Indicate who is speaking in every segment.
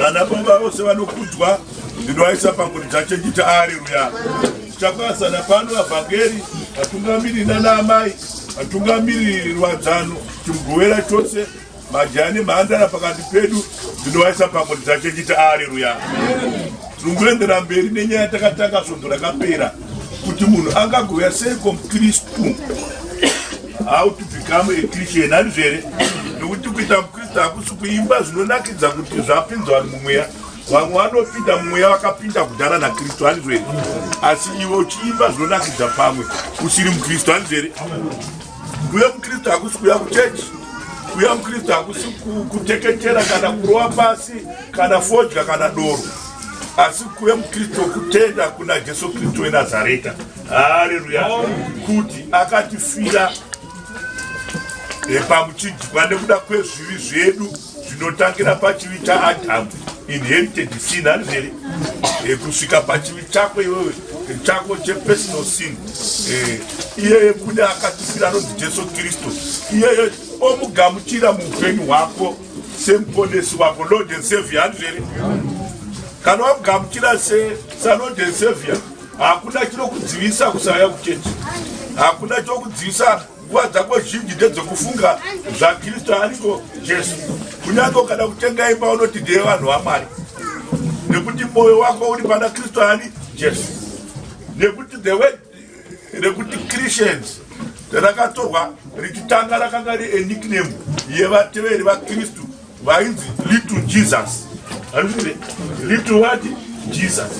Speaker 1: vana baba vose vanokudzwa ndinoaisa panguri dzacho nditi areruya tichakwazana pano vavhangeri vatungamiri nana amai vatungamiri rwadzano timugovera chose majaya nemhandara pakati pedu ndinoaisa panguri dzacho nditi areruya tinongoendera mberi nenyaya yatakatanga svondo rakapera kuti munhu angagovera sei komukristu how to become a christian handizvo here nokuti kuita mukristu hakusi kuimba zvinonakidza kuti zvapinzwa mumweya vamwe vanopinda mumweya vakapinda kudhara nakristu handizvo here asi iwe uchiimba zvinonakidza pamwe usiri mukristu handizvo here kuya mukristu hakusi kuya kuchechi kuya mukristu hakusi kuteketera kana kurova pasi kana fodya kana doro asi kuya mukristu kutenda kuna jesu kristu wenazareta haleluya kuti akatifira pamuchidyiwa nekuda kwezvivi zvedu zvinotangira pachivi chaadhamu inherited sin anizvere eh, kusvika pachivi chako iwewe eh, chako chepersonal sin eh, iyeye kude akatifira anonzi jesu kristu iyeye omugamuchira muupenyu hwako semuponesi wako lord and savior anizvere kana wamugamuchira sesalord and savior hakuna chinokudzivisa kusauya kuchechi hakuna chokudzivisa nguva dzako zhinji ndedzokufunga zvakristu ariko jesu kunyange ukada kutenga imba unoti ndeye vanhu vamwari nekuti mwoyo wako uri pana kristu ani jesu nekuti the word rekuti christians rakatorwa richitanga rakanga ri enickname yevateveri vakristu vainzi little jesus little what jesus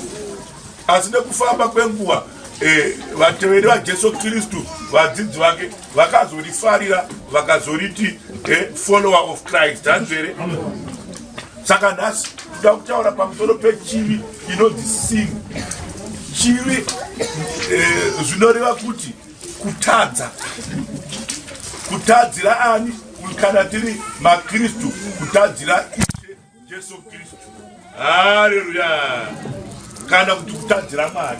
Speaker 1: asi nekufamba kwenguva eh, vateveri vajesu kristu vadzidzi vake vakazorifarira vakazoriti eh, follower of christ hanzvere saka nhasi toda kutaura pamusoro pechivi inonzi sin chivi eh, zvinoreva kuti kutadza kutadzira ani kana tiri makristu kutadzira Jesu Kristu. Haleluya. Kana kuti kutadzira Mwari.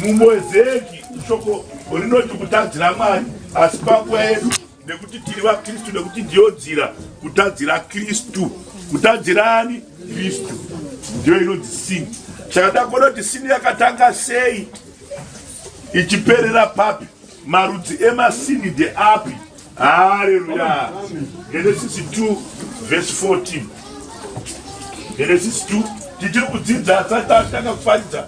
Speaker 1: Mumwezeki shoko rinoti kutadzira Mwari asi panguva yedu nekuti tiri vaKristu nekuti ndiyo nzira kutadzira Kristu. Kutadzirani Kristu. Ndiyo inonzi sin. Saka takonoti sin yakatanga sei ichiperera papi? Marudzi emasini ndeapi? Hallelujah. Genesis 2 verse 14. Genesis 2 tichiri kudzidza asati atanga kuparidza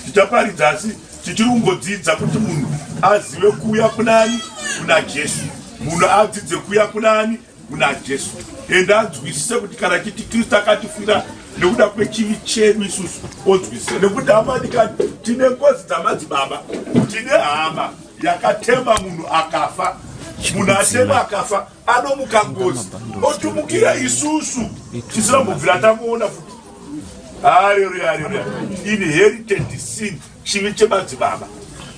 Speaker 1: tichaparidza asi tichiri kungodzidza kuti munhu azive kuuya kunani kuna jesu munhu adzidze kuuya kunani kuna jesu ende anzwisise kuti kana chiti kristu akatifira nekuda kwechivi chedu isusu onzwisisa nekuti hamadikani tine ngozi dzamadzibaba tine hama yakatema munhu akafa munhu atema akafa anomuka ngozi otumukira isusu tisina mbobvira tamuona futi haleluya haleluya inherited sin chivi chemadzibaba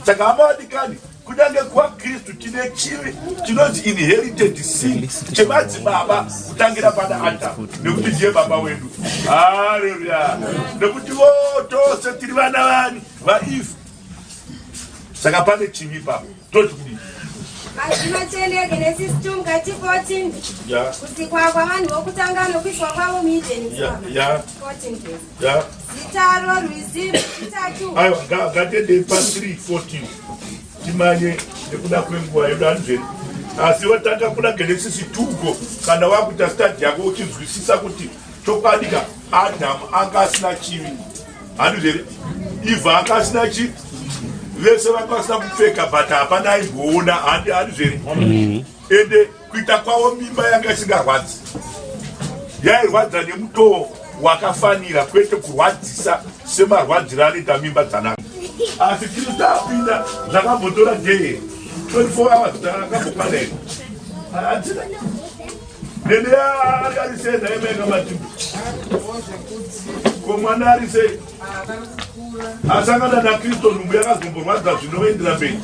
Speaker 1: saka hama vadikani kunyange kwakristu tine chivi chinonzi inherited sin chemadzibaba kutangira pana adamu nekuti ndiye baba wedu haleluya nekuti votose tiri vana vani vaife saka pane chivi papo toti kudii mazvino tiendege nesis 2 mukati 14 kusikwa kwavanhu vokutanga nokuiswa kwavo muedeni 14 zita rorwizi itatu ngatiendei pa 3 14 timanye nekuda kwenguva yedu anzveni asi watanga kuna genesisi tugo kana wakuita stadi yako uchinzwisisa kuti chokwadi ka adhamu anga asina chivi handizi here ivo anga asina chi vese vanga vasina kupfeka but hapana aimboona handizi here mm-hmm. ende kuita kwavo mimba yanga isingarwadzi yairwadza nemutoo wakafanira kwete kurwadzisa semarwadziro anoita mimba dzanaka asi chiri tapinda zvakambotora dee 24 hours takambokwana here hadzina Dede akarise ndaimeka mati. Ko mwana arise. Asangana na Kristo ndubu yakazomborwadza zvinoendera mberi.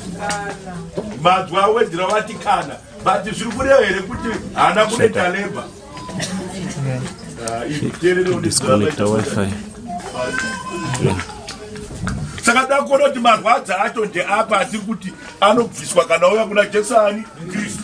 Speaker 1: Madzwa awedera vati kana. But zviri kureva here kuti haana kuneta labor. Uh, Disconnect wifi. Yeah saka ndakuona kuti marwadza acho ndeapa asiri kuti anobviswa kana uya kuna jesu ani kristu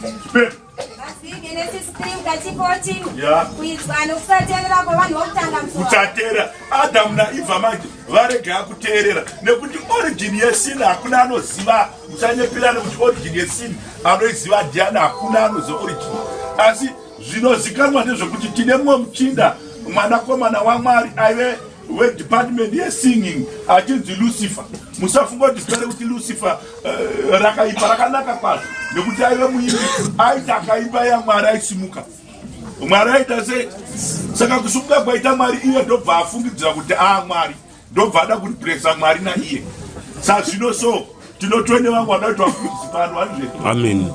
Speaker 1: kuchatera adamu naivha manje varega yakuteerera nekuti origin yesin hakuna anoziva muchanyepirana kuti origin yesin anoiziva diana hakuna anoziva origin asi zvinozikanwa ndezvekuti tine mumwe muchinda mwanakomana wamwari aive wedepartment yesinging achinzi lucifer musafunga kuti zita rekuti lucifer uh, rakaipa rakanaka kwazvo nekuti aive muimbi aita akaimba yamwari aisimuka mwari aita sei saka kusimuka kwaita mwari iye ndobva afungidzira kuti aa ah, mwari ndobva ada kuripresa mwari naiye sazvino so tinotwene vangu vada kuti vafungidzipano vanhu zvedu amen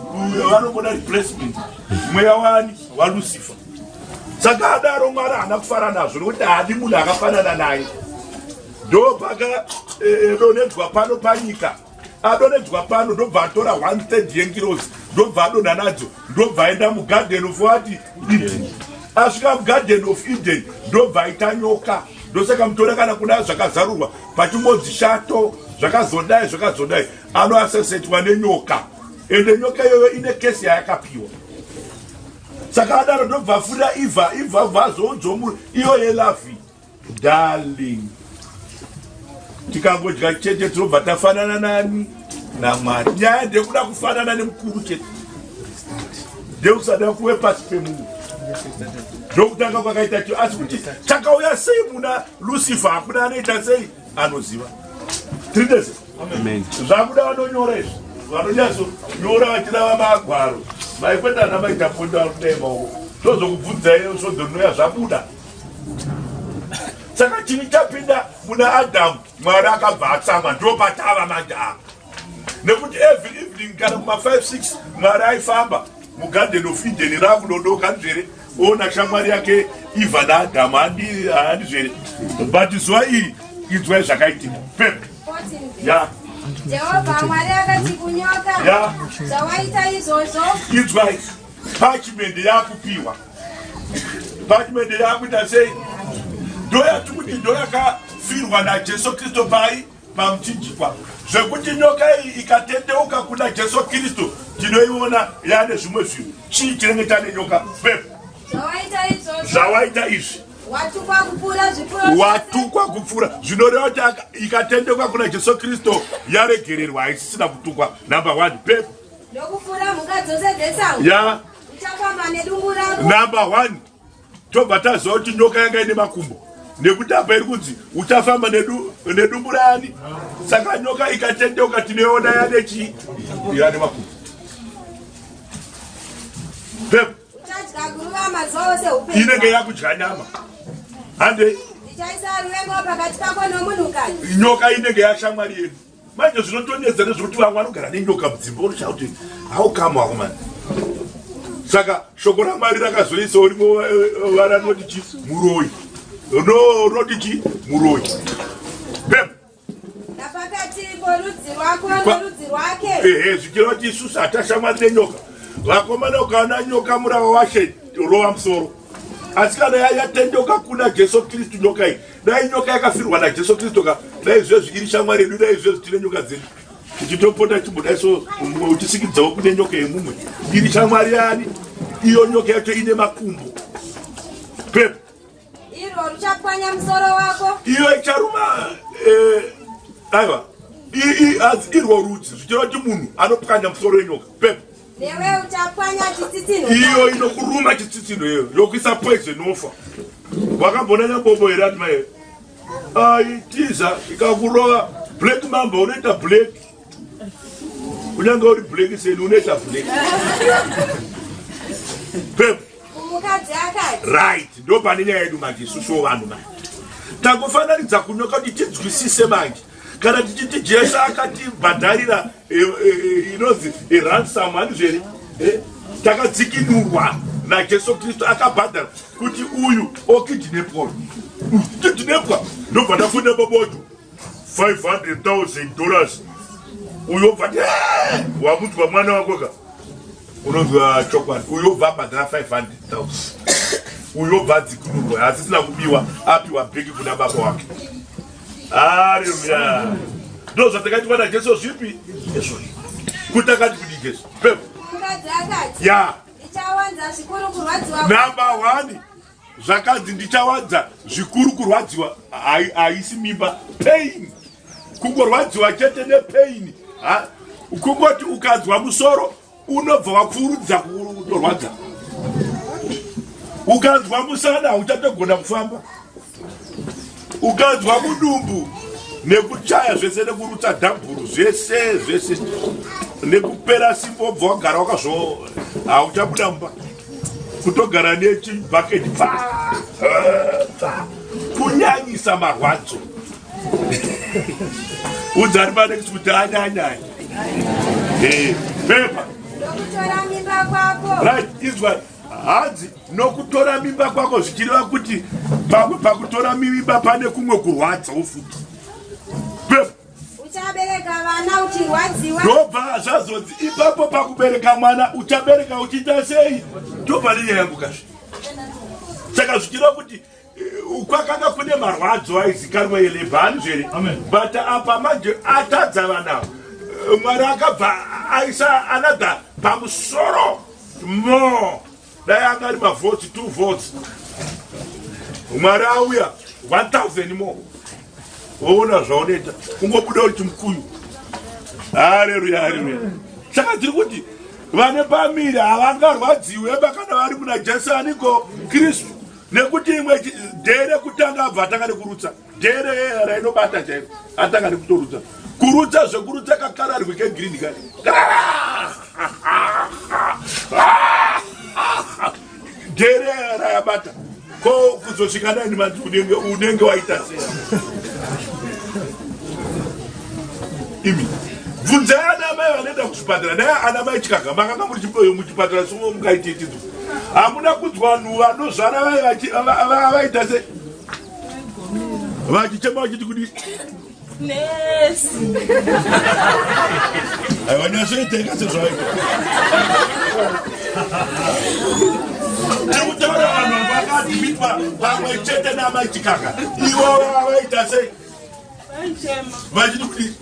Speaker 1: vanongoda replacement mweya wani walucifer saka adaro mwari haana kufara nazvo nokuti haadi munhu akafanana naye ndopaka donedzwa eh, eh, pano panyika adonedzwa pano ndobva atora one third yengirozi ndobva adonha nadzo ndobva aenda mugarden of what eden asvika mugarden of eden ndobva aita nyoka ndosaka mutora kana kuna zvakazarurwa pachingonzi shato zvakazodai zvakazodai anoasesetwa nenyoka ende nyoka iyoyo ine kesi yayakapiwa saka adaro ndobva afurira iva iva vazounzwa munhu iyo yelavi darling tikangodya chete tinobva tafanana nani namwari nyaya ndekuda kufanana nemukuru chete ndekusada kuwe pasi pemunhu ndokutanga kwakaita cho asi kuti chakauya sei muna lucifer hakuna anoita sei anoziva tiri ndese zvakuda vanonyora izvi vanonyatsonyora vachirava magwaro maikweta ana maitaponda vanodema uko ndozokubvudzai svodzo rinoya zvabuda saka chini chapinda muna adamu mwari akabva atsamwa ndopatava manje apa nekuti every evening kana kuma 56 mwari aifamba mugarden of eden rakudodoka nzvere ona shamwari yake iva naadhamu handizvere but zuva iri inzwai zvakaitika pep ya jehovha mwari akati kunyoka zvawaita izvozvo inzwai pachimende yakupiwa pachimende yakuita sei ndoyati kuti ndoyakafirwa najesu kristu pai Pamuchinjikwa zvekuti nyoka iyi ikatendeuka kuna Jesu Kristu tinoiona yane zvimwe zvinhu. Chii chinenge chane nyoka? Pepo zvawaita izvi watukwa kupfuura zvinoreva kuti ikatendeuka kuna Jesu Kristu yaregererwa, haisisina kutukwa. Number one, pepo ndokupfuura mhuka dzose dzesango. Yeah. Number one. tobva taziva kuti nyoka yanga ine makumbo nekuti apa iri kunzi uchafamba nedumbu rani saka nyoka ikatendeuka tinoona yane chii yane makumbo pepo inenge yakudya nyama hande nyoka inenge yashamwari yedu manje zvinotonyedza nezvekuti vamwe vanogara nenyoka mudzimba unoshaya kuti how come wakomana saka shoko ramwari rakazoisa urimo eh, eh, vara rinoti chi muroyi no rinoti chi muroyi bem ehe zvichira kuti isusu hatashamwari nenyoka vakomana ukaona nyoka murava washe rova musoro asi kana yatendoka kuna jesu kristu nyoka iyi dai nyoka yakafirwa najesu kristu ka dai zvezvi iri shamwari yedu dai zvezvi tine nyoka dzedu tichitopota chibuda so mumwe uchisikidzawo kune nyoka yemumwe iri shamwari yani iyo nyoka yacho ine makumbo pepo iro richapwanya musoro wako iyo icharuma eh, aiwa irwo rudzi zvichireva kuti munhu anopwanya musoro wenyoka pepo Newe uchapwanya chitsitsinho. Iyo inokuruma chitsitsinho iyo yokuisa poison ofa. Wakambona nyabobo here ati mai? Ai tiza ikakurova black mamba unoita black. Unyange uri black seni unoita black. Pep. Mukadzi akati. Right, ndo pane nyaya yedu manje isusu vanhu manje. Takufananidza kunyoka kuti tinzwisise manje. kana tichiti jesu akatibhadharira eh, eh, eh, inonzi ransom handizveri takadzikinurwa najesu kristu akabhadhara kuti uyu okidinepwa kidinepwa ndobva ndafunda baboto 500,000 dollars uyo obva wamudzwa mwana wako ka unonzwa chokwadi uyo obva abhadhara 500,000 uyo obva adzikinurwa asisina kubiwa apiwa bheki kuna baba wake Haleluya. Ndio zvatakaitwa na Jesu zvipi? Jesu. Kutakati kudi Jesu. Pepo. Mukadzi akati. Ya. Ndichawanza zvikuru kurwadziwa. Namba 1. Zvakanzi ndichawanza zvikuru kurwadziwa haisi mimba pain. Kungorwadziwa chete ne pain. Ha? Kungoti ukanzwa musoro unobva wakurudza kutorwadza ukanzwa musana hauchatogona kufamba ukanzwa mudumbu nekuchaya zvese nekurutsa dhamburu zvese zvese nekupera simba obva wagara wakazvo hauchabuda mumba kutogara nechibhaketi kunyanyisa marwadzo udzani panext kuti anyanyai eh, pepa right izwai hanzi nokutora mimba kwako zvichireva kuti pamwe pakutora mimba pane kumwe kurwadzawo futi ndobva zvazonzi ipapo pakubereka mwana uchabereka uchiita sei ndobva nenyaya yambukazve saka zvichireva kuti kwakanga kune marwadzo aizikanwa yelebha anzvere but apa manje atadza vana mwari akabva aisa another pamusoro more dai anga ari mavoti two votes mwari auya 1000 more woona zvaonoita kungobuda uri chimukuyu hareruya hareruya saka tiri kuti vane pamiri havangarwadziwe bakana vari muna jesu aniko kristu nekuti imwe dhee rekutanga abva atanga nekurutsa dhee reyera rainobata chairo atanga nekutorutsa kurutsa zvekurutsa kakararwi kegreen ka dhee reyera rayabata ko kuzosvika nani manzi unenge unenge waita sei imi bvunzai ana mai vanoenda kuzvipatara dai ana mai chikaga makanga muri chipatara somukaititidzo hamuna kunzwa vanhu vanozvara vaita se vachichema vachiti kudi aiwa nyashoiteka sezvaita tikutaura vanhu vakadhibitwa pamwe chete namaichikaka ivo vaita sei vachiti kuti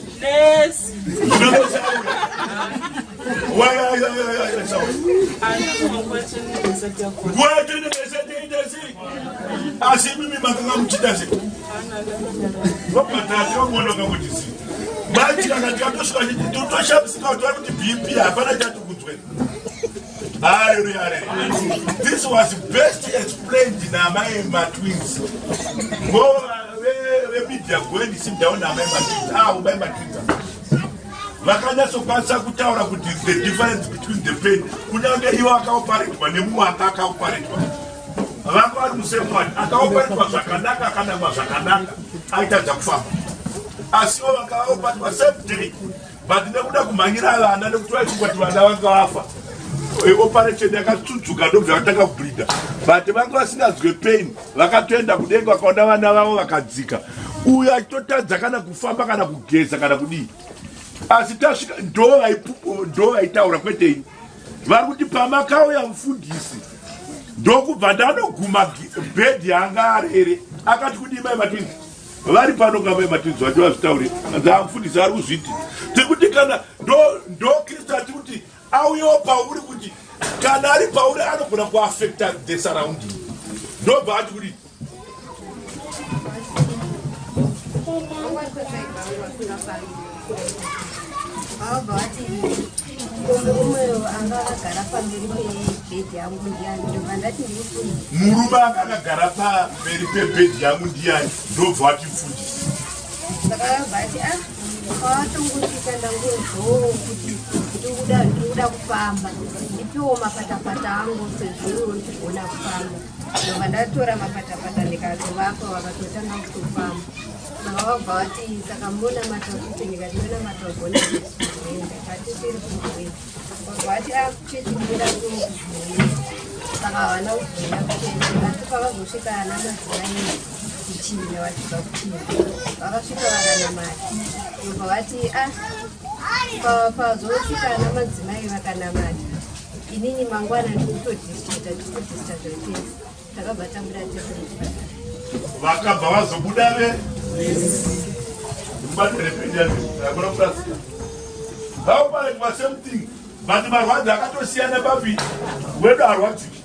Speaker 1: asi mimi makanga muchita se vapatate vakuona kakuti si manje kana tikatosvika totoshamisa kuti bp hapana chati kudzwera Hallelujah. This was best explained in Amai Matwins. Go away, media going to sit down Amai Matwins. Ah, Amai Matwins. vakanyatsokwatsa kutaura kuti the difference between the pain kunyange iwo akaoparetwa nemumwe anga akaoparetwa vanga vari musemwani akaoparetwa zvakanaka akanamwa zvakanaka aitadza kufamba asiwo vakaoparetwa same day but nekuda kumhanyira vana nekuti vaichingoti vana vanga vafa eh, operation yakatsudzuka ndobva vatanga kubhidha but vanga vasinganzwe pain vakatoenda kudenga vakaona vana vavo vakadzika uyo achitotadza kana kufamba kana kugeza kana kudii asi tasvika ndo vaitaura kwete ini vari kuti pamakauya mufundisi ndokubva ndanoguma bhedhi yanga arere akati kudii mai matwins vari pano kamba yematinzi vacho vazvitaurira dzaamfundisi ari kuzviti tekuti kana ndo kristu ati kuti auyewo pauri kuti kana ari pauri anogona kuafecta the surrounding ndobva ati kuti murume anga akagara pamberi pebhedhi yangu ndiyani ndobva wati mfundisi kwavatongosvika ndangozvoo kuti ndikuda ndikuda kufamba ndipiwo mapatapata angu sezviro ndichigona kufamba ndobva ndatora mapatapata ndikazovapa vakatotanga kutofamba Vabva vati saka monamata kuti ndikati ndonamata ugone kuenda kati tiri kuenda vabva vati akuchiti ndira kuenda saka havana kuenda kuenda asi pavazosvika ana madzimai kuchina vachibva kuchina vakasvika vakanamata vabva vati ah pazosvika ana madzimai vakanamata inini mangwana ndikutodisita ndikutodisita zvaitesa vakabva vazobuda ve mubati rependiaakona kurasika vaoparekwa same thing but marwadzi akatosiyana babi wedu arwadziki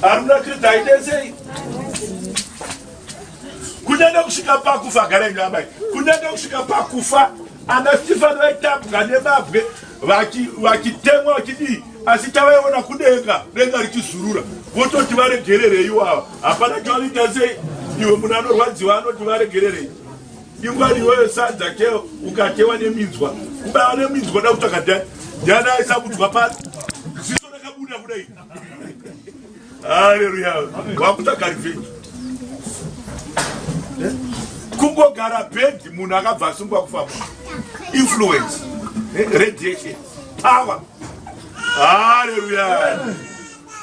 Speaker 1: aruna kristu aidesei kunyange kusvika pakufa agara inyu amai kunyange kusvika pakufa ana stefani vaitambwa nemabwe vachitemwa vachidii asi tavaiona kudenga denga richizurura vototi varegererei iwava hapana chavanoita sei iwe munhu anorwadziwa anoti varegererei ingwari iyoyo sadza ke ukatewa neminzwa kubaiwa neminzwa da kutsvaka dai ndiani aisakudzwa pasi ziso rakabuda kudai haleluya wakutsvaga revenge eh? kungogara bed munhu akabva asungwa kufamba influence eh? radiation power haleluya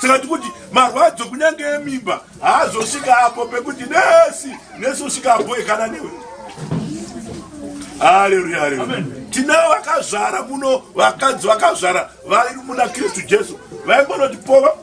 Speaker 1: saka tikuti marwadzo kunyange emimba haazosvika apo pekuti nesi nesi usvika apo ekana newe haleluya haleluya tinavo vakazvara muno vakadzi vakazvara vairi muna kristu jesu vaingonoti pova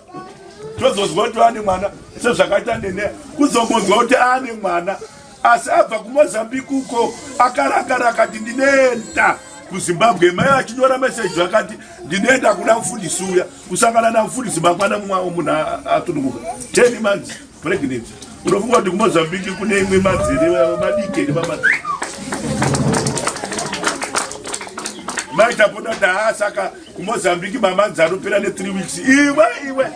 Speaker 1: tozonzwa kuti ane mwana sezvakaita nene kuzongonzwa kuti ane mwana asi abva kumozambique uko akarakara akati ndinoenda kuzimbabwe mai achinyora meseji akati ndinoenda kuna mfundisi uya kusangana namfundisi mangwana mumwe munhu atunukuka ten months Pregnant. Unofunga kuti kuMozambique kune imwe madziri madike nemamadziri. Mai tapota kuti haa saka kuMozambique mamanzi anopera ne 3 weeks. Iwe iwe.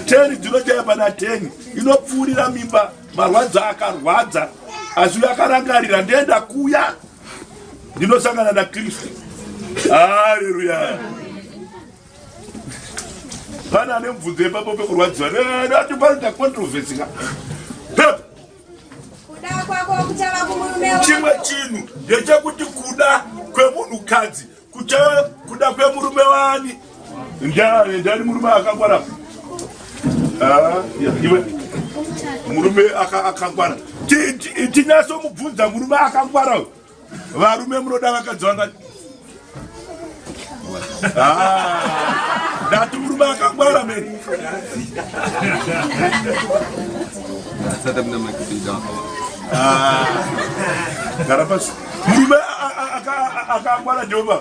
Speaker 1: 10 dzinochaya pana 10 inopfuurira mimba marwadzo akarwadza asi uyo akarangarira ndoenda kuya ndinosangana na kristu haleluya pane ane mubvunzo yepapo pekurwadziwa atipanoita controversy ka chimwe chinhu ndechekuti kuda kwemunhukadzi kuchava kuda kwemurume wani ndani ndani murume akangwara ah, iwe murume akangwara tinyasomubvunza murume akangwara uyu Varume munoda vakadzi vangani? Ah, ndati murume akangwara meni. Ah, gara pasi. Murume akangwara Jehovha.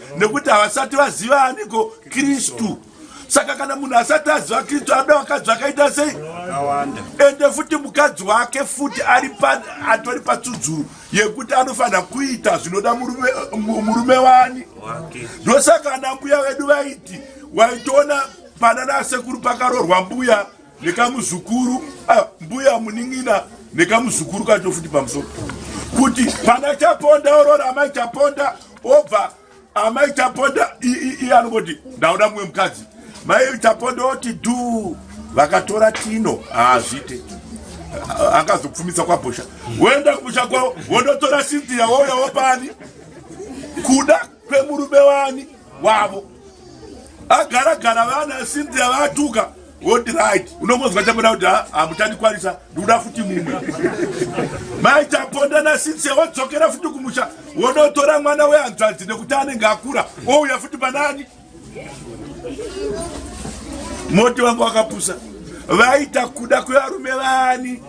Speaker 1: nekuti havasati vaziva aniko kristu saka kana munhu asati aziva kristu anoda vakadzi vakaita sei ende futi mukadzi wake futi atori patsudzuru yekuti anofanira kuita zvinoda murume wani ndosaka anambuya vedu vaiti waitoona panana sekuru pakarorwa mbuya nekamuzukuru ah, mbuya munin'ina nekamuzukuru kacho futi pamusoro kuti pana chaponda orora amai chaponda obva amai chaponda iye anongoti ndauda mumwe mukadzi mai chaponda oti du vakatora tino haazvite akazopfumisa kwabhosha woenda kumusha kwavo wonotora sintiya wouya wopani kuda kwemurume wani wavo agara gara vana Cynthia vatuka what right unongonzwa chamuda kuti hamutandikwanisa ah, ndikuda futi mumwe mai chaponda nasinse wodzokera futi kumusha wonotora mwana wehanzvadzi nekuti anenge akura ouya futi panani moti wangu wakapusa vaita kuda kwevarume vani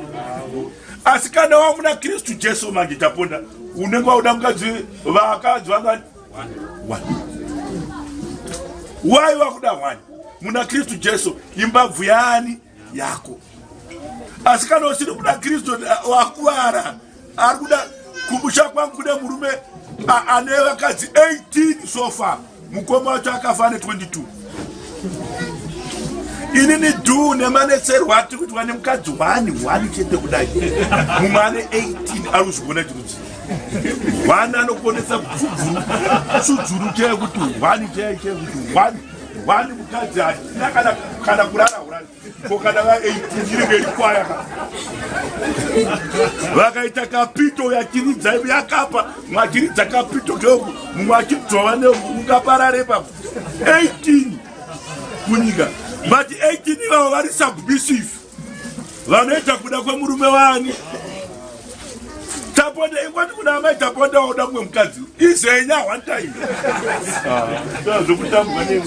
Speaker 1: asi kana wamuna kristu jesu manje taponda unenge wauda mukadzi vakadzi vangani wai wakuda hwani muna kristu jesu imbabvu yaani yako asi kana usiri kuda kristu wakuvara ari kuda kumusha kwangu kune murume ane vakadzi 18 sofa mukoma wacho akafa ane 22 ini ni du nemanetserwa atiri kuitwa nemukadzi wani wani chete kudai mumwe ane 18 ari kuzvigona chiruzi wani anokonesa kusudzurukei kuti wani chei chei kuti wani Wani mukadzi hatina kana kana kurara urani ko kana va 18 iri mberi kwaya ka vakaita kapito yakiridza yakapa mwakiridza kapito keku mumwe akibdzwa vane ungaparare pa 18 kunyika but 18 ivavo vari submissive vanoita kuda kwemurume wani taponda ingoti kuna amai taponda waoda kumwe mukadzi izenya one time ah, zvokutambwa ne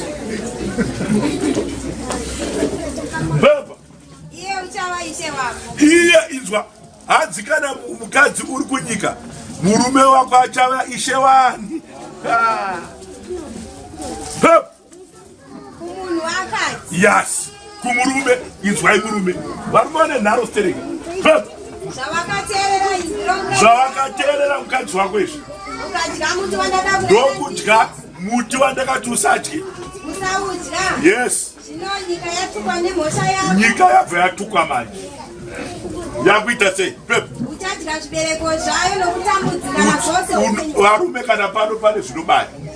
Speaker 1: baba iye inzwa hadzi kana mukadzi uri kunyika murume wako achava ishe wani ah. yes kumurume inzwai murume varume vane nharo stereki zvavakateerera mukadzi wako izvi ndokudya muti wandakati usadye yes nyika yabva yatukwa manje yakuita sei varume kana pano pane zvinobaya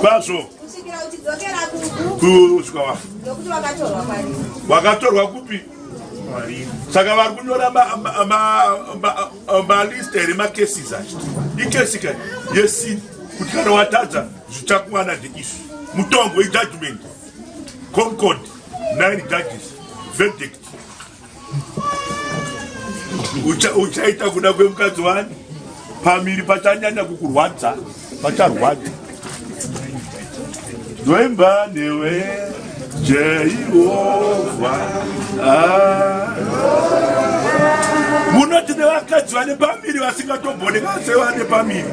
Speaker 1: kwazvo kusvika wafa wakatorwa kupi saka vari kunyora malista here macases acho ikesi ka yesini kuti kana watadza zvichakuwana zveizvi mutongo ijudgment concord nine judges verdict uchaita kuda kwemukadzi wani pamiri pachanyanya kukurwadza pacharwadza ndoimba newe jehovha ah. munoti nevakadzi vane pamiri vasingatobonekase vane pamiri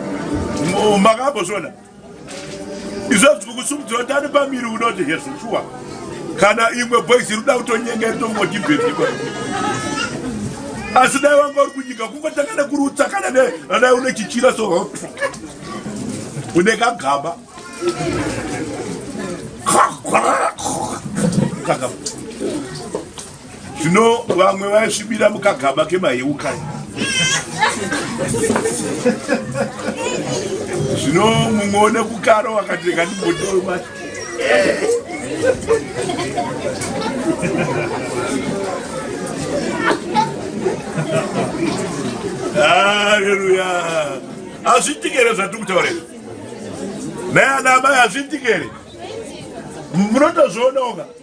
Speaker 1: makambozvona izvozvi tiri kusumudzira kuti ane pamiri unoti hezvo shuwa kana imwe boys iri kuda kutonyenga iri tongoti bhedhiko asi dai wanga uri kunyika kungotanga nekuri utsakana ne adai une chichira so une kagaba zvino vamwe vaisvibira mukagaba kemaheukai zvino mumwe one kukaro wakati reka ndimbotiwe mati haleluya hazvitikere zvatiri kutaura izvi naye ana amai hazvitikere munotozvionaoka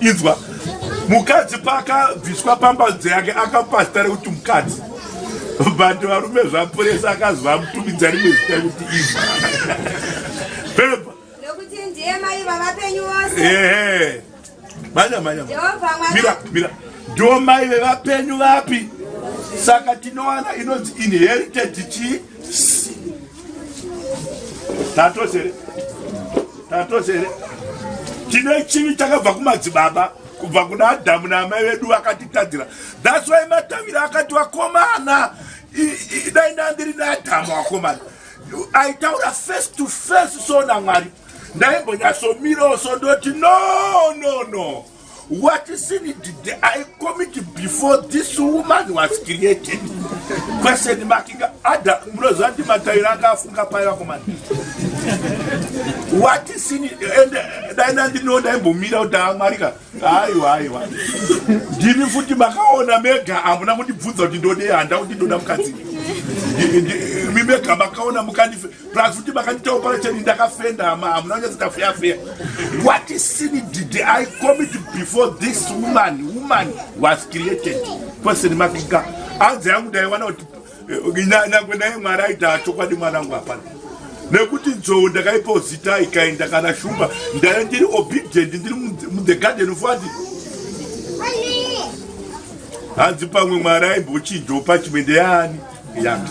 Speaker 1: inzwa mukadzi paakabviswa pamba dzeyake akapasita rekuti mukadzi but varume zvapuresa akaziva mutumidza rimwe zita kuti izva pepa ehe manya manya mira mira ndiwo mai vevapenyu vapi saka tinowana inonzi inherited chi tatosere Tatose here? Tine chivi chakabva kumadzibaba kubva kuna Adamu naamai vedu vakatitadzira. That's why matavira akati wakomana dai ndandiri naAdamu wakomana. Aitaura face to face so naMwari. Ndaimbonyasomirawo so ndoti no no no. What sin did I commit before this woman was created? Question mark. Ada mroza ndi mataira anga afunga paya komana. What sin and dai nandi no dai mbomira kuti amwarika. Hayi hayi hayi. Ndimi futi makaona mega amuna kuti bvunza kuti ndode handa kuti ndoda mukadzi. Ndimi mega makaona mukandi plus futi makandita operation ndakafenda hama hamuna kunyatsa tafeyafeya what sin did i commit before this woman woman was created person makinga anzi yangu ndaiwana kuti eh, nyangwe naye mwari aita chokwadi mwana wangu hapana nekuti nzou ndakaipawo zita ikaenda kana shumba ndaive ndiri obedient ndiri muthe garden fati hanzi pamwe mwari aimbochinjopa chimende yaani yanga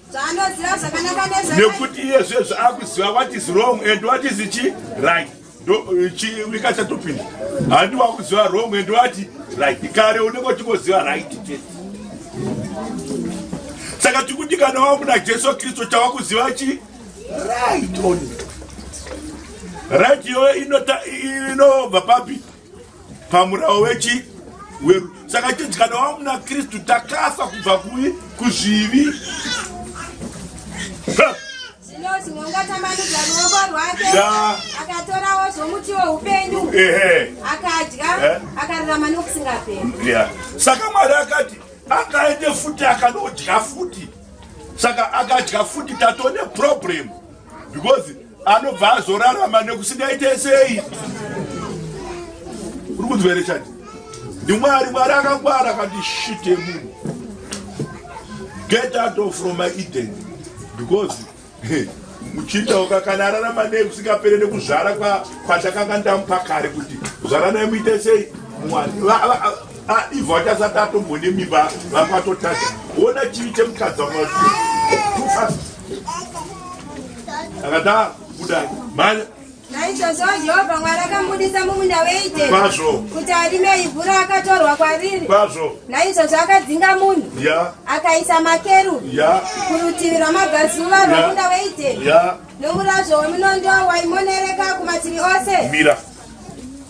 Speaker 1: nekuti iye zviye zvaakuziva what is wrong and what is chi right ikachatopinda handi wakuziva wrong and what right kare unenge uchingoziva right chete saka tikuti kana wamuna jesu kristu chawakuziva chi right only right iyoyo inobva papi pamurawo wechi weru saka chinzi kana wava muna kristu takafa kubva kuvi kuzvivi ungatambanudza ruoko rwake akatorawo zvomuti weupenyu akadya eh? akararama nokusingaperi saka mwari akati akaende futi akanodya futi saka akadya futi tatone problemu because anobva azorarama nekusingaite sei uri kunzwa here chati ndimwari mwari akangwara akati shit yemunhu get out of from my eden because muchinda uka kana ararama nei kusingapere nekuzvara kwatakanga ndamupa kare kuti zvaranai muite sei mwari Ah, ivo achasati atombone mimba vako atotadza ona chivi chemukadzi wako akadaro kuda mhanya naizvozvo jehovha mwari akambudisa mumunda weite kwazvo kuti arime ivhu raakatorwa kwariri kwazvo naizvozvo akadzinga munhu ya akaisa makeru ya kurutivi rwamabvazuva rwamunda weite ya nomurazvo wemunondo waimonereka kumativi ose mira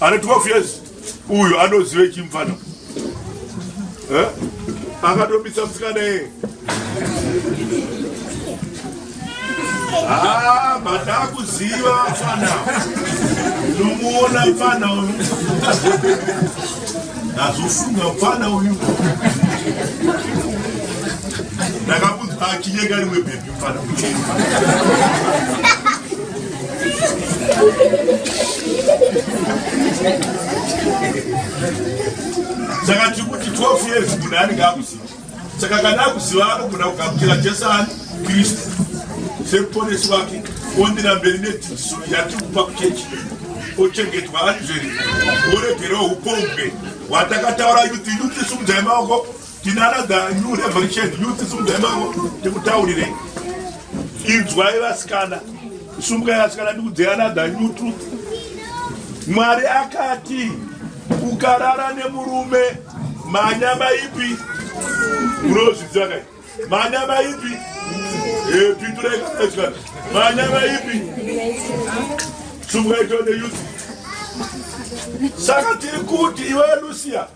Speaker 1: Ane 12 years uyu anozive chimfana eh? akatobisa msikana yeye ah, madakuziva mfana nomuona mfana uyu ndazofunga mfana uyu ndakamunzwa achinyeka rimwe bhebhi saka tiri kuti 12 years munhu anenge akuziva saka kana akuziva anogona kugamuchira jesu ani kristu semuponesi wake ondira mberi nedzidziso yatiri kupa kuchechi ochengetwa ari zveri oregerawo upombwe hwatakataura yuti yuti sumudzai maoko Tinarada new revolution youth sumudzai mako ndikutaurire inzwai vasikana sumukai vasikana ndikudzai another new truth mwari akati ukarara nemurume manyama ipi unozviziva kai manyama ipi eh, pindurai kaasikana manyama ipi sumukai tone youth saka tiri kuti iwe lucia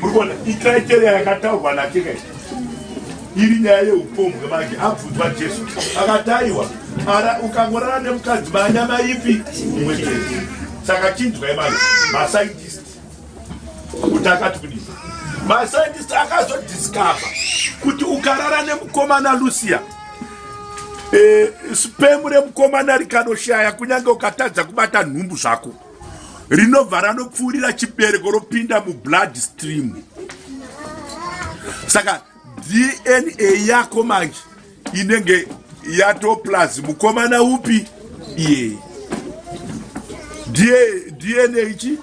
Speaker 1: murikuona icriteria yakataurwa natika iri nyaya yeupombwe manje abvunzwa jesu akataiwa ara ukangorara nemukadzi manyama ipi mumwe chete saka chinzwai manje mascientist kuti akati kudii mascientist akazodiscover kuti ukarara nemukomana lucia e, eh, spemu remukomana rikanoshaya kunyange ukatadza kubata nhumbu zvako rinobva ranopfuurira chibereko ropinda mublood stream saka dna yako manje inenge yatoplus mukomana upi iye dna ichi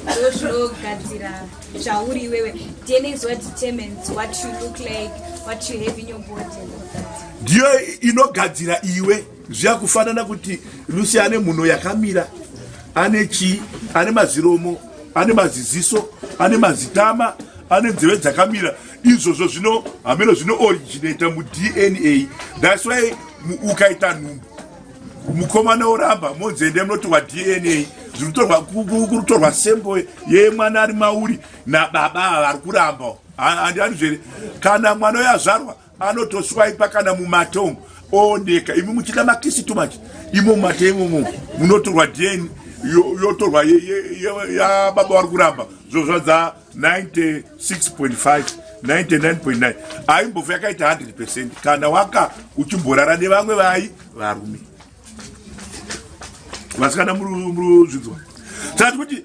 Speaker 1: ndozvinogadzira zvauri iwewe dna is what determines what you look like what you have in your body ndiyo inogadzira iwe zviyakufanana kuti lucy ane mhuno yakamira ane chii ane maziromo ane maziziso ane mazitama ane nzeve dzakamira izvozvo zvino hameno zvino originata mudna thats why ukaita nhumbu mukomana oramba monzende munoti wadna zvirikutorwa sembo yemwana ari mauri nababa vari kuramba andiani zvere kana mwana uyo azvarwa anotoswaipa kana mumate umu ooneka imi muchida makisi too much imo mumate imomo munotorwa dn yotorwa yababa wari kuramba zvozvadza 96.5 99.9 aimbova yakaita 100 percent kana waka uchimborara nevamwe vai varume vasikana muruzvinzwa sati kuti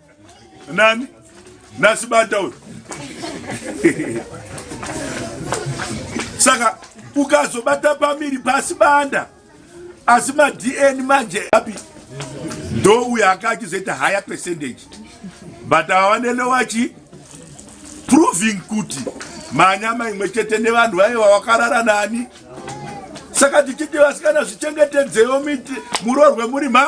Speaker 1: nani nasibata uyu saka ukazobata pamiri pasi banda asi madn manje api ndo uyo aka achizoita higher percentage but avanelowachi proving kuti manyama imwe chete nevanhu vaye vavakarara nani saka tichiti vasikana zvichengetedzewo murorwe muri ma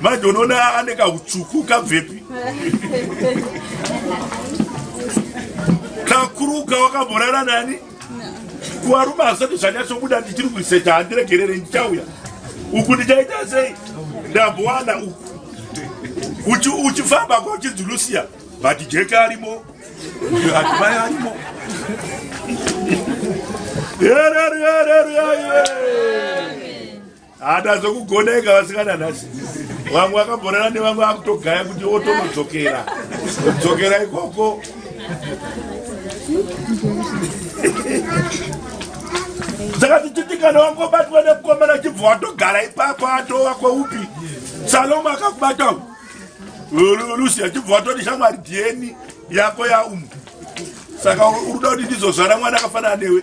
Speaker 1: manje unoona ane kautsvuku kabvepi kakuruka wakamborara nani kuvarume hazvisati zvanyatsobuda ndichiri kuiseta handiregerere ndichauya uku ndichaita sei ndambowana uku uchifamba kwa uchinzi lusia but jeke arimo atimai arimo Yeah, yeah, yeah, yeah, yeah. hada zvekugona ega vasikana nhasi vamwe vakabhorana nevamwe vakutogaya kuti otonodzokera dzokera ikoko saka tichitikana wangobatwa nemukomana chibva watogara ipapo atova kweupi salomo akakubata lusi achibva watoti shamwari dieni yako yaumu saka urikuda kuti ndizozvara mwana akafanana newe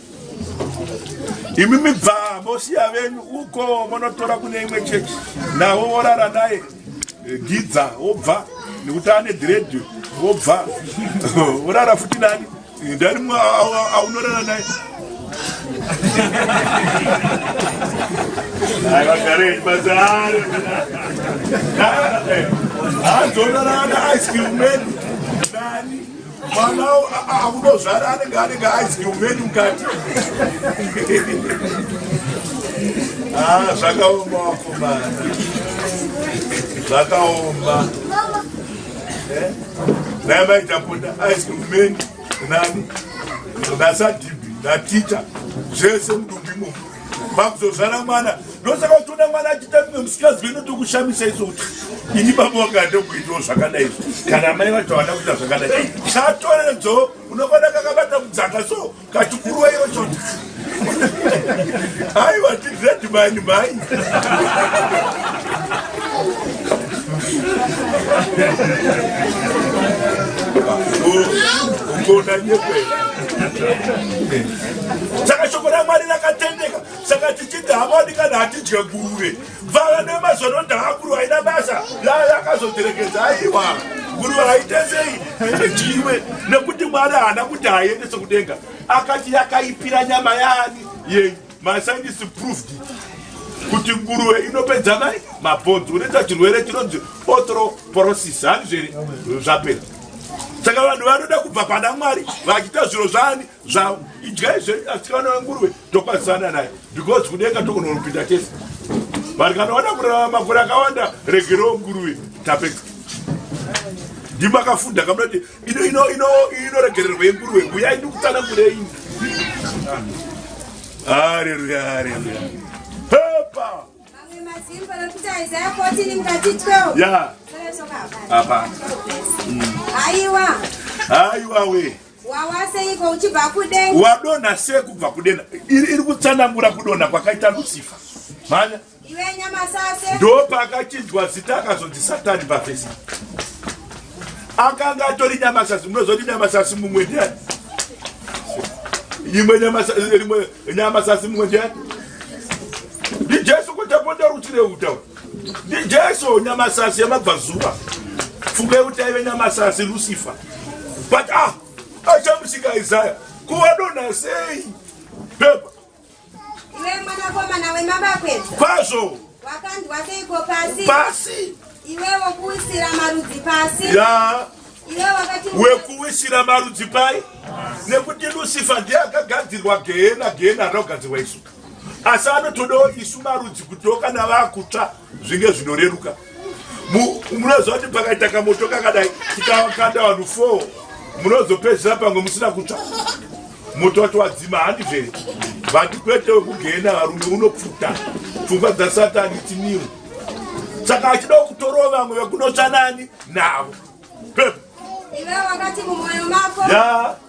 Speaker 1: imi mibva mosiya venyu uko monotora kune imwe chechi nawo worara naye eh, gidza wobva nekuti ane dhiredi wobva worara futi nani eh, ndani mwe aunorara naye azorarana ice cream menu mwana akudozvara anenge anenge aidye umweni mukati ah, zvakaoma wakomana zvakaoma eh? naye maitapota aidye umweni nani nasadhibi naticha zvese mudumbi imomo makuzozvara mwana ndosaka uchiona mwana achiita mimwe musikadzi veno tokushamisa iso kuti ini baba wakade kuitawo zvakadai izvo kana mai vacho havana kuita zvakadai chatoredzo unofanira kakabata mudzaka so kachikuruwa iro choti aiwa tigredi mani mai ungona nyekwera saka shoko ramwari rakatendeka saka tichiti hamadi kana hatidye guve vava nemazono ndakakuru aina basa laya akazoterekedza aiwa guru vaitesei ndiwe nekuti mwari haana kuti haiendese kudenga akati yakaipira nyama yani yenyu Mascientists proved it kuti nguruve inopedza mai mabhonzi unoita chirwere chinonzi othroporosis handizveri zvapera saka vanhu vanoda kubva pana mwari vachiita zviro zvaani zvavo idyai zvenyu asikana wenguruve tokwazisana naye because kudenga tokunonopinda tese vanhu kana vada kurarama makore akawanda regerewo nguruve tapeka ndimakafunda kamnati ino ino ino inoregererwa yenguruwe huya ini kutana kurei haleluya haleluya pepa ya hapana haiwa haiwa we wawaseiko uchibva kudenga wadonha sei kubva kudenha iri kutsanangura kudonha kwakaita lusifa mhanya ndopaakachinjwa zita akazonzi satani pafesi akanga atori nyamasasi munozoti nyamasasi mumwe ndiani imwe nyamasasi mumwe ndiani ndijesu kutapota rutire uta ndijesu nyamasasi yamabvazuva funge kuti aive nyamasasi lusifa but ah achamusika isaya kuwadona sei pepa Iwe mwanakomana wemabakwedza. Kwazvo. Wakanzwa seiko pasi? Pasi. Iwe wokuwisira marudzi pasi. Ya. Iwe wakati wekuwisira marudzi pai? Nekuti Lucifer ndiye akagadzirwa gehena, gehena rakagadzirwa isu. Asi anotodawo isu marudzi kuti kana vakutsva zvinge zvinoreruka munoziva kuti pakaita kamoto kakadai tikakanda vanhu four munozopedzisira pamwe musina kutsva moto wacho wadzima handi zvere vati kwete wekugena varume unopfuta pfungwa dzasatani tiniwo saka achida kutorova vamwe vekunotsva nani navo pepo iwe wakati mumwoyo mako ya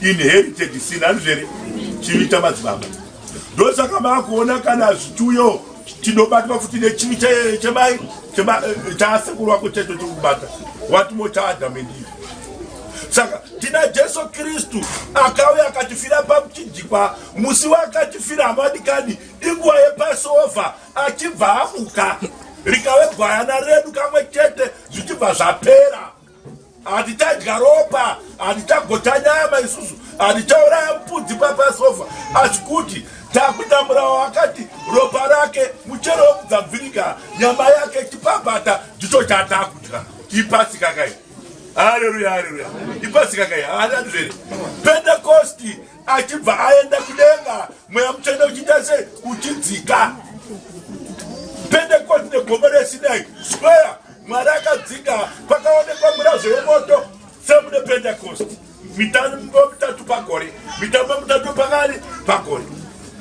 Speaker 1: inherited sin andizvere chivi chamadzibaba ndosaka makuona kana zvichiuyo tinobatwa futi nechivi chemai eh, chaasekuru wako cheto chekubata watimo chaadhamu endivi saka tina jesu kristu akauya akatifira pamuchinjikwa musi waakatifira hamadikani inguva yepasova achibva amuka rikave gwayana redu kamwe chete zvichibva zvapera Hatitadya ropa, hatichagota nyama isusu, hatichauraya mupudzi papasofa, asi kuti takutamburawo akati ropa rake muchero wekudzabvirika nyama yake chipabata ndicho chatakudya ipasi kakai haleluya haleluya ipasi kakai haananizvere pentekosti achibva aenda kudenga mweya mutsvene uchiita sei uchidzika pentekoti negomo resinai square mwari akadzika pakaonekwa mirazvo yemoto semune pentekosti mitambo mitatu pagore mitambo mitatu pakani pagore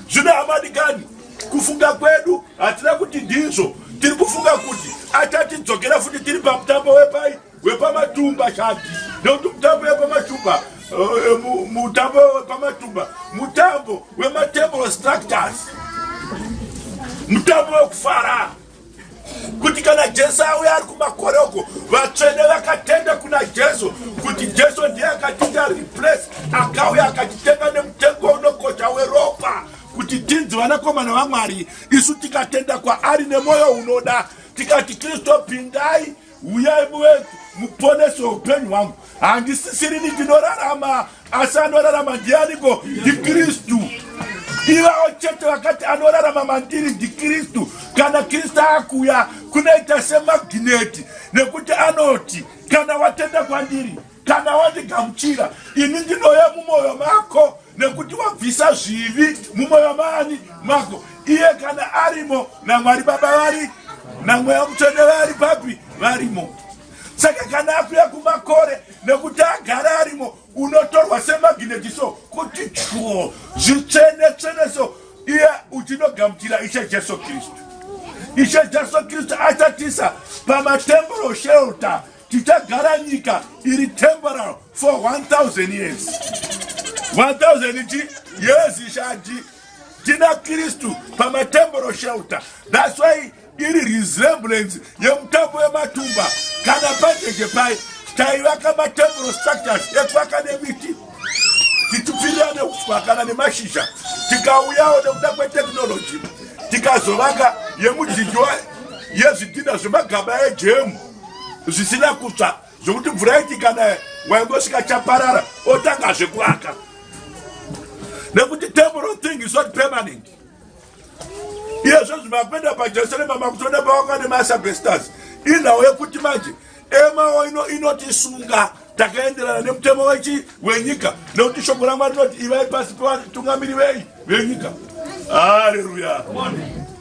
Speaker 1: zvino hamadikani kufunga kwedu hatina kuti ndizvo tiri kufunga kuti achatidzokera futi tiri pamutambo wepai wepamatumba chati nekuti mutambo wepamatumba eh, mutambo wepamatumba mutambo wematable structures mutambo wekufara kuti kana jesu auya ari kumakore uko vatsvene vakatenda kuna jesu kuti jesu ndiye akatiita replace akauya akatitenga nemutengo unokosha weropa kuti tinzi vanakomana vamwari isu tikatenda kwaari nemwoyo unoda tikati kristu pindai huyai muwetu muponese upenyu hwangu handisisirini ndinorarama asi anorarama ndianiko ndikristu ivavo chete vakati anorarama mandiri ndikristu kana kristu akuuya kunoita semagineti nekuti anoti kana watenda kwandiri kana wandigamuchira ini ndinouya mumwoyo mako nekuti wabvisa zvivi mumwoyo maani mako iye kana arimo namwari baba vari namweya mutsvene vari papi varimo saka kana akuya kumakore nekuti agara arimo unotorwa semagineti so kuti chuo zvitsvene tsvene so iye uchinogamuchira ishe jesu kristu ishe jesu kristu achatisa pamatemboro shelter tichagara nyika iri temporal for 1000 years 1000 chi years ishati tina kristu pamatemporal shelter thats why iri resemblance yemutambo wematumba kana pajeje pai taivaka matemporal structures ekwaka nemiti tichipfirira neuswa kana nemashizha tikauyawo nekuda kwetechnology tikazovaka yemudyiwa yezvidhina zvemagaba ejemu zvisina kutsva zvekuti mvura iti kana waingosvika chaparara otanga zvekuaka nekuti temporal thing is not permanent iyezvo zvimakuenda pajerusalema makutoda pawaka nemasabesters inhau yekuti manje emawo ino inotisunga takaenderana nemutemo wechi wenyika nekuti shoko ramwari rinoti ivai pasi pevatungamiri vei venyika haleluya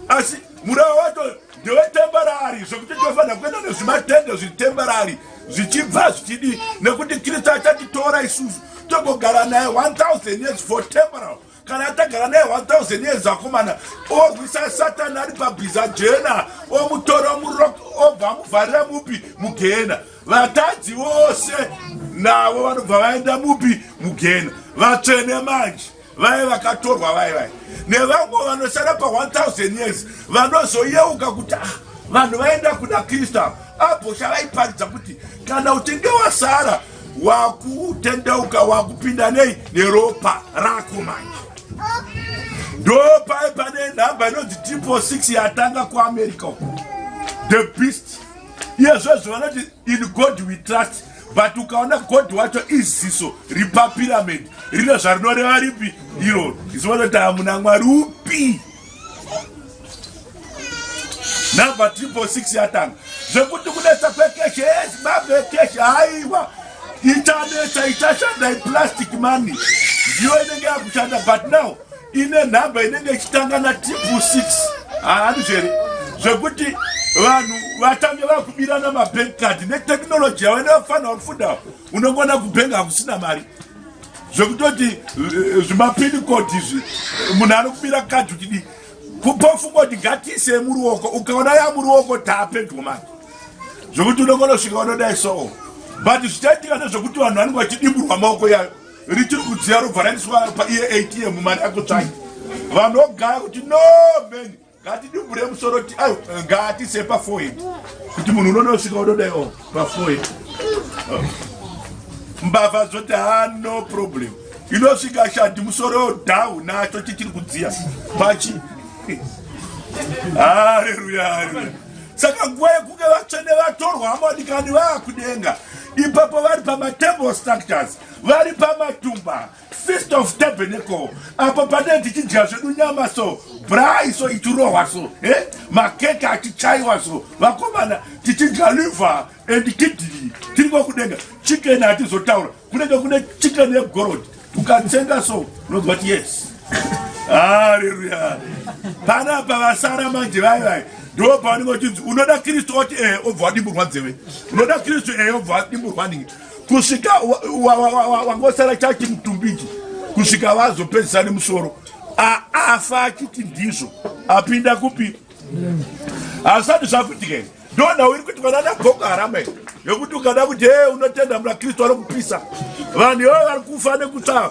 Speaker 1: asi murao wacho Ndewe temporary zvekuti tofanira kuenda nezvimatende zviri temporary zvichibva zvichidi nekuti Kristu achatitora isusu togogara naye 1000 years for temporal kana atagara naye 1000 years akomana orwisa satani ari pabhiza jena omutora murok obva amuvharira mupi mugena vatadzi vose navo vanobva vaenda mupi mugena vatsvene manje vaye vakatorwa vaye vaye nevamwe vanosara pa 1000 years vanozoyeuka kuti ah, vanhu vaenda kuda kristu ava abhosha vaiparidza kuti kana uchinge wasara wakutendeuka wakupinda nei neropa rako manje ndo paye pane nhamba inonzi triple 6 yatanga kuamerica uku the beast iyezvezvo vanoti in god we trust but ukaona god wacho iziso repapirament rino zvarinoreva ripi iro izivanoti hamuna mwari upi number triple six yatanga zvekuti kunetsa kwekeshe ezimbabwe ekeshe haiwa ichanetsa ichashanda iplastic money ndiyo inenge yakushanda but now ine nhamba inenge ichitanga natipu 6 haandizvere zvekuti vanhu vatange vakubirana mabank card netechnology yavo inofanirwa kufundawo unongona kubhenga hakusina mari zvekutoti eh, zvimapini code izvi munhu ari kubira card uchidii kupofungoti ngatiise yemuruoko ukaona yamuruoko taapedyo mani zvekuti unongona kusvika vanodai soo but zvichaitika nezvekuti vanhu vanenge vachidimburwa maoko yayo richiri kudziya robva raendeswa paeatm mari yako tsvai vanogaya kuti no mhen ngatidubure musoro ngatise pafoid kuti munhu unonosvika unodaio pafoid mbavha zvoti ha no problem inosvika shadi musoro dau nacho chichiri kudziya pachi hareruya hareruya saka nguva yekunge vatsvene vatorwa hama vadikani vaakudenga ipapo vari pamatemple structures vari pamatumba fist of tabernacle apo pane tichidya zvedu nyama so brai so ichirohwa so e eh? makeke achichaiwa so vakomana tichidya liver and kidney tiri kwakudenga chicken hatizotaura kunenge kune chicken yegorod ukatsenga so unonzwa ti yes haleluya panapa vasara manje vai vai ndo pavanenge vachinzi unoda kristu oti e eh, obva wadimburwa dzeve unoda kristu e eh, obva wadimburwa ningi kusvika wangosara chati mutumbiji kusvika vazopedzisa nemusoro afa achiti ndizvo apinda kupi hazvisati zvakuitika ii ndoda uri kuti vanana bhoko harama ii yokuti ukada kuti e unotenda muna kristu anokupisa vanhu ivo vari kufa nekutsvaa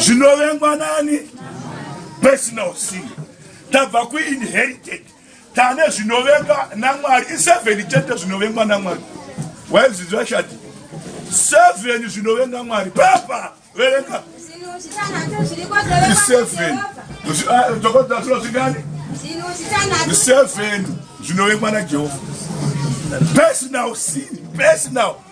Speaker 1: zvinovengwa nani personal sin tabva kuinherited tane zvinovengwa namwari iseven chete zvinovengwa namwari waizviziva shati seven zvinovenga mwari pepa verenga iseven tokodza zvino zvingani iseven zvinovengwa najehovha personal sin personal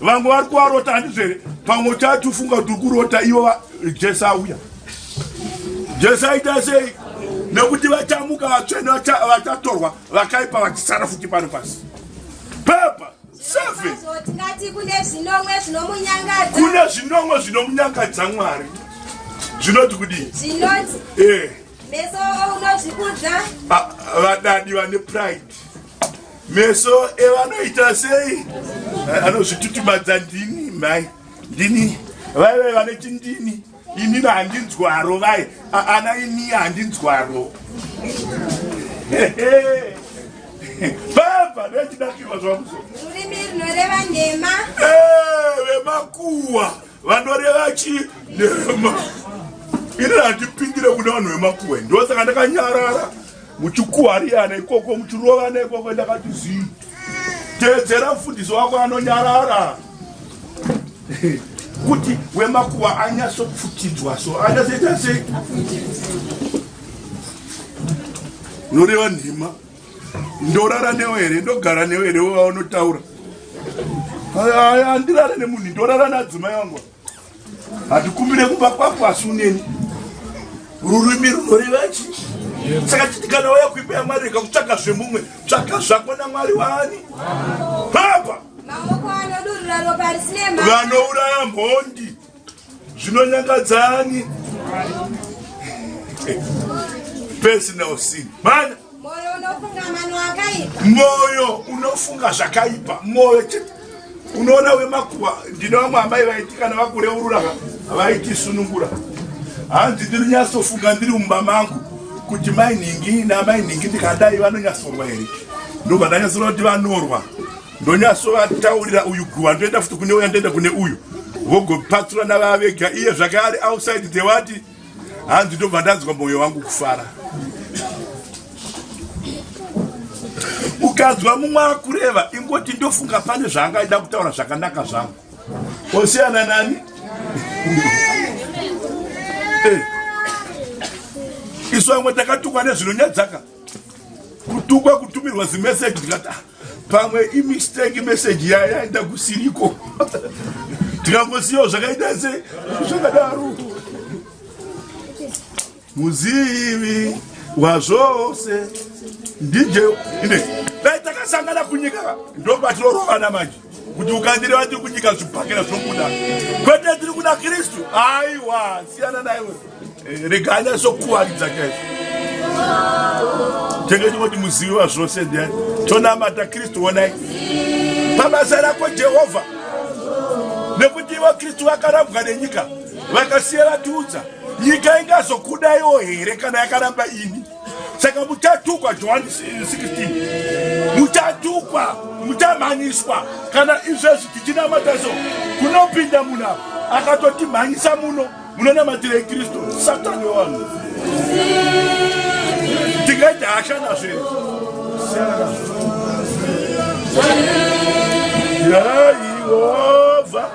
Speaker 1: vamwe vari kuvarota handizvere pamwe uchati ufunga kuti uri kurota ivo jesu auya jesu aita sei nekuti vachamuka vatsvene vachatorwa vakaipa vachisara futi pano pasi pepa seven kune zvinomwe zvinomunyangadza mwari zvinoti kudii zvinoti eh. meso unozvikudza vadadi vane pride meso evanoita sei eh, anozvitutumadza ndini mai ndini vaive vanoti ndini inini handinzwaro vai ana ini handinzwaro baba ndachidakirwa zvamuso rurimi rinoreva nhema eh, vemakuwa vanoreva chi nhema ini handipindire kuna vanhu vemakuwa ndosaka ndakanyarara muchikuhariana ikoko muchirovana ikoko ndakati zii teedzera mfundisi wako anonyarara kuti wemakuva anyatsopfutidzwa so anyasoita sei unoreva nhema ndorara newe here ndogara newe here wevaonotaura andirare nemunhu ndorara nadzimai wangu Hatikumbire kumba kwako asi uneni. Rurimi runoreva chi? Saka titi kana waya kuimba yaMwari rega kutsvaga zvemumwe, tsvaga zvako naMwari waani? Papa. Maoko anodurura ropa risine mhaka. Vanouraya mhondi. Zvinonyangadzani. Personal sin. Mana moyo unofunga zvakaipa moyo chete unoona wemakuva ndine vamwe amai vaiti kana vakureurura vaitisunungura hanzi ndiri nyatsofunga ndiri mumba mangu kuti mai nhingi namai nhingi ndikadai vanonyatsorwa here ndobva ndanyatsoona kuti vanorwa ndonyatsovataurira uyu guva ndoenda futi kune uya ndoenda kune uyu vogopatsurana vavega iye zvakaari outside the wati hanzi ndobva ndanzwa mwoyo wangu kufara ukanzwa mumwe akureva ingoti ndofunga pane zvaangaida kutaura zvakanaka zvangu osiyana nani eh. isu vamwe takatukwa nezvinonyadzaka kutukwa kutumirwa zimeseji ndikati ah, pamwe imistake message yayaenda kusiriko tikangosiyawo zvakaita se zvakadaro muzivi wazvose ndije ine dai takasangana kunyika ndobatinorovana manje kuti ukandire vati kunyika zvibhakera zvobuda kwete tiri kuda kristu aiwa siyana naiwe eh, rega anyasokuwaridza chaizvo tenge tinoti muzivi wa zvose ndiani tonamata kristu wonai pabasa rako jehovha nekuti ivo kristu vakarambwa nenyika vakasiya vatiudza nyika ingazokudaiwo here kana yakaramba ini saka muchatukwa johani 16 muchatukwa muchamhanyiswa kana izvezvi tichinamata so kunopinda munhu akatotimhanyisa muno munonamatirei kristu satani wevanhu tingaita hasha nazvo here yaiwa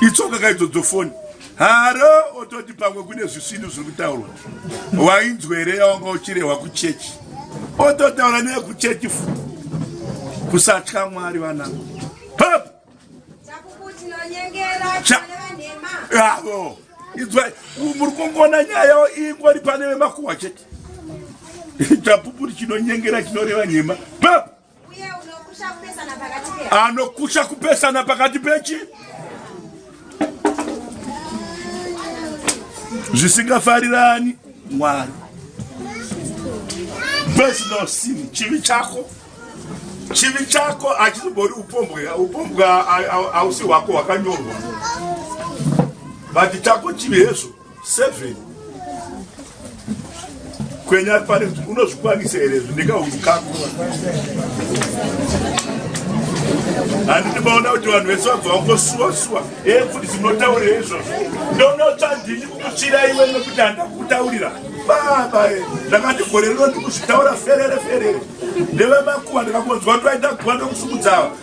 Speaker 1: itsoka kaidzodzo foni haro ototi pamwe kune zvisvinu zviri kutaurwa wainzwere yawanga uchirehwa kuchechi ototaura neye kuchechi fu kusatya mwari vana pap avo inzwa muri kungona nyaya yavo ingori pane vemakuhwa chete chapupu chinonyengera chinoreva nhema pap anokusha kupesana pakati pechi zvisingafarirani mwari personal sin chivi chako chivi chako achizobori upombwe upombwe hausi hwako hwakanyorwa vati chako chivi hezvo Seven. Kwenya pari unozvikwanisa here zvindikahundu kako. Handiti maona kuti vanhu vese vabva vangosuwa suwa. Eh kuti zvinotaurira izvozvo. Ndonotsa ndini kukuchira iwe nekuti handakutaurira. Baba eh ndakati gore rino ndikuzvitaura ferere ferere. Ndeve makuwa ndikakonzwa kuti vaita kuwa ndokusumudzawa.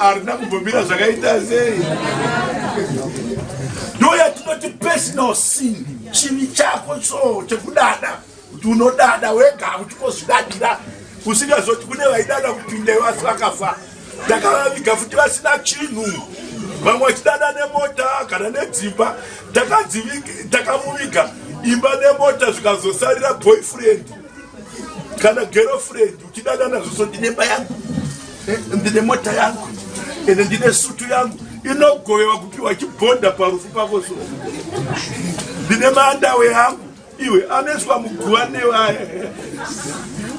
Speaker 1: harina kumbomira zvakaita sei ndoyatinoti personal sin chivi chako so chekudada kuti unodada wega kuti kozvidadira usingazoti kune vaidada kupinda vasi vakafa takavaviga futi vasina chinhu vamwe vachidada nemota kana nedzimba takamuviga imba nemota zvikazosarira boyfriend kana girlfriend uchidada nazvo so ndine mba yangu eh, ndine mota yangu ende ndine sutu yangu inogovewa kupiwa chibhonda parufu pako so ndine maandawe yangu iwe anoiswa muguva nevaya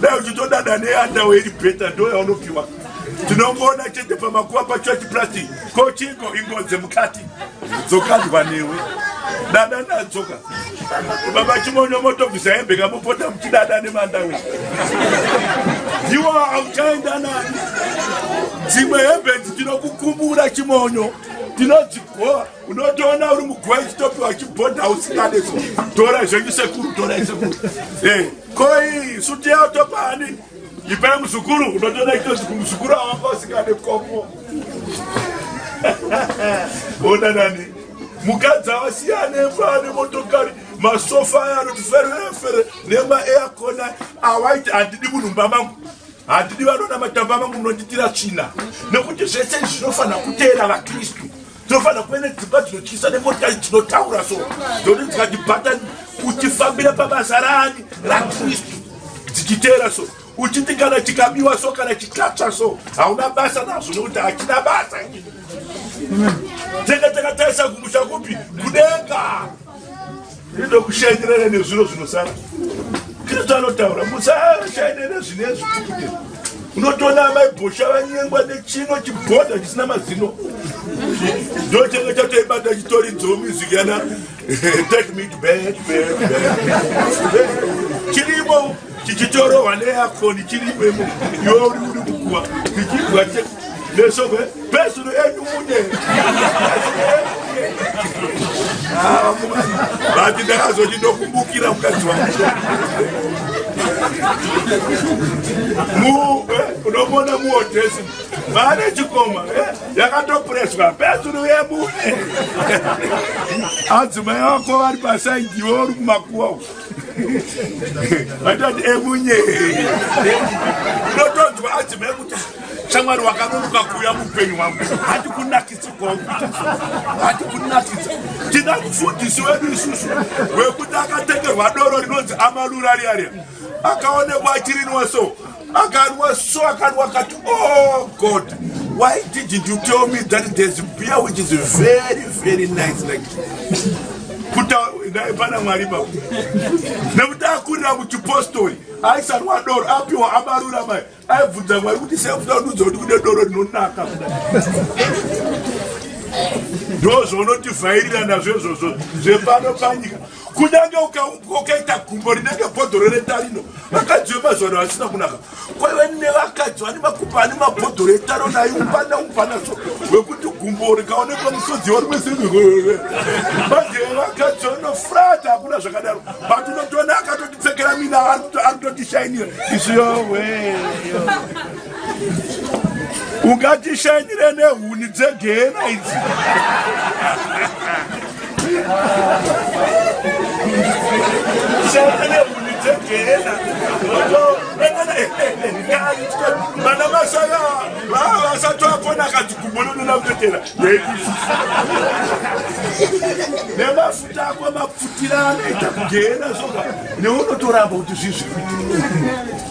Speaker 1: dai uchitodada neandawe iri bheta ndoyaonopiwa tinongoona chete pamakuva pacho achiplastic Ko chiko ingodze mukati dzokandwa newe dada nadzoka baba chimonyo motobvisa hembe kamopota muchidada nemandawe iwa auchaenda nani dzimwe hembe dzi tinokukumbura chimonyo tinodzigoa unotoona uri mugoa ichitopiwa chibhodha usingade so tora zvenyu sekuru tora isekuru eh, koi suti yao topaani Ipai muzukuru unotoda kutoti kumuzukuru awanga usingade komo. Ona nani? Mukadzi awasiyane mfane motokari masofa aya anoti ferefere nema aircon awaiti handidi munhu mumba mangu handidi vanona matamba mangu munonditira tsvina nekuti zvese izvi zvinofanira kuteera vakristu tinofanira kuve nedzimba dzinotyisa nemotikari dzinotaura so dzoti dzikatibata uchifambira pabasa raani rakristu dzichiteera so uchiti kana chikabiwa so kana chikatsva so hauna basa nazvo nekuti hachina basa tenge takatarisa kumusha kupi kudenga ndokushaikirana nezviro zvinosara kristu anotaura musashaikira nezvine zvitukude unotoona amai bhosha vanyengwa nechino chibhodha chisina mazino ndochenge chatoibata chitori dzomusic yana take me to bed bed bed chirimo tichitorohwa neakoni chiripemo iwe uri uri kukuwa tichidwa nesoko pesuro edu mune vati ndakazoti ndokumbukira mukadzi wangu unomona muodhesi vane chikoma eh, yakatopreswa pesuro yemune adzimai vako vari pasaidhiwo uri kumakuwa vatati emunye unotonzwa adzima ekuti shamwari wakanonoka kuuya muupenyu wangu hati kunakidza kwangu hati kunakidza tina mufundisi wedu isusu wekuti akatengerwa doro rinonzi amalurariaria akaonekwa achirinwa so akarwa so akarwa akati oh god why didn't you tell me that there's beer which is very very nice like kutaipana mwari pa nekuti akurira kuchipostori aisarwa doro apiwa amarura mai aibvunza mwari kuti sekuda kududza kuti kune doro rinonaka ndozvaunotivhairira nazvo izvozvo zvepano panyika kunyange ukaumbwa ukaita gumbo rinenge bhodhoro retarino vakadzi vemazuva ano vasina kunaka kwaive nevakadzi vane makumba ane mabhodhoro etaro naye umbana umbanaso wekuti gumbo rikaonekwa musodzi warimwese manje vakadzi vanofrata hakuna zvakadaro but unotoona akatotipfekera mina ari kutotishayinira izviyowe ungatishanyire nehuni dzegehena idzi vana vasaya vava vasati vapona akadzigumononona kutetera nemafuta ako mapfutira anoita kugehena soka neunotoramba kuti zvizvi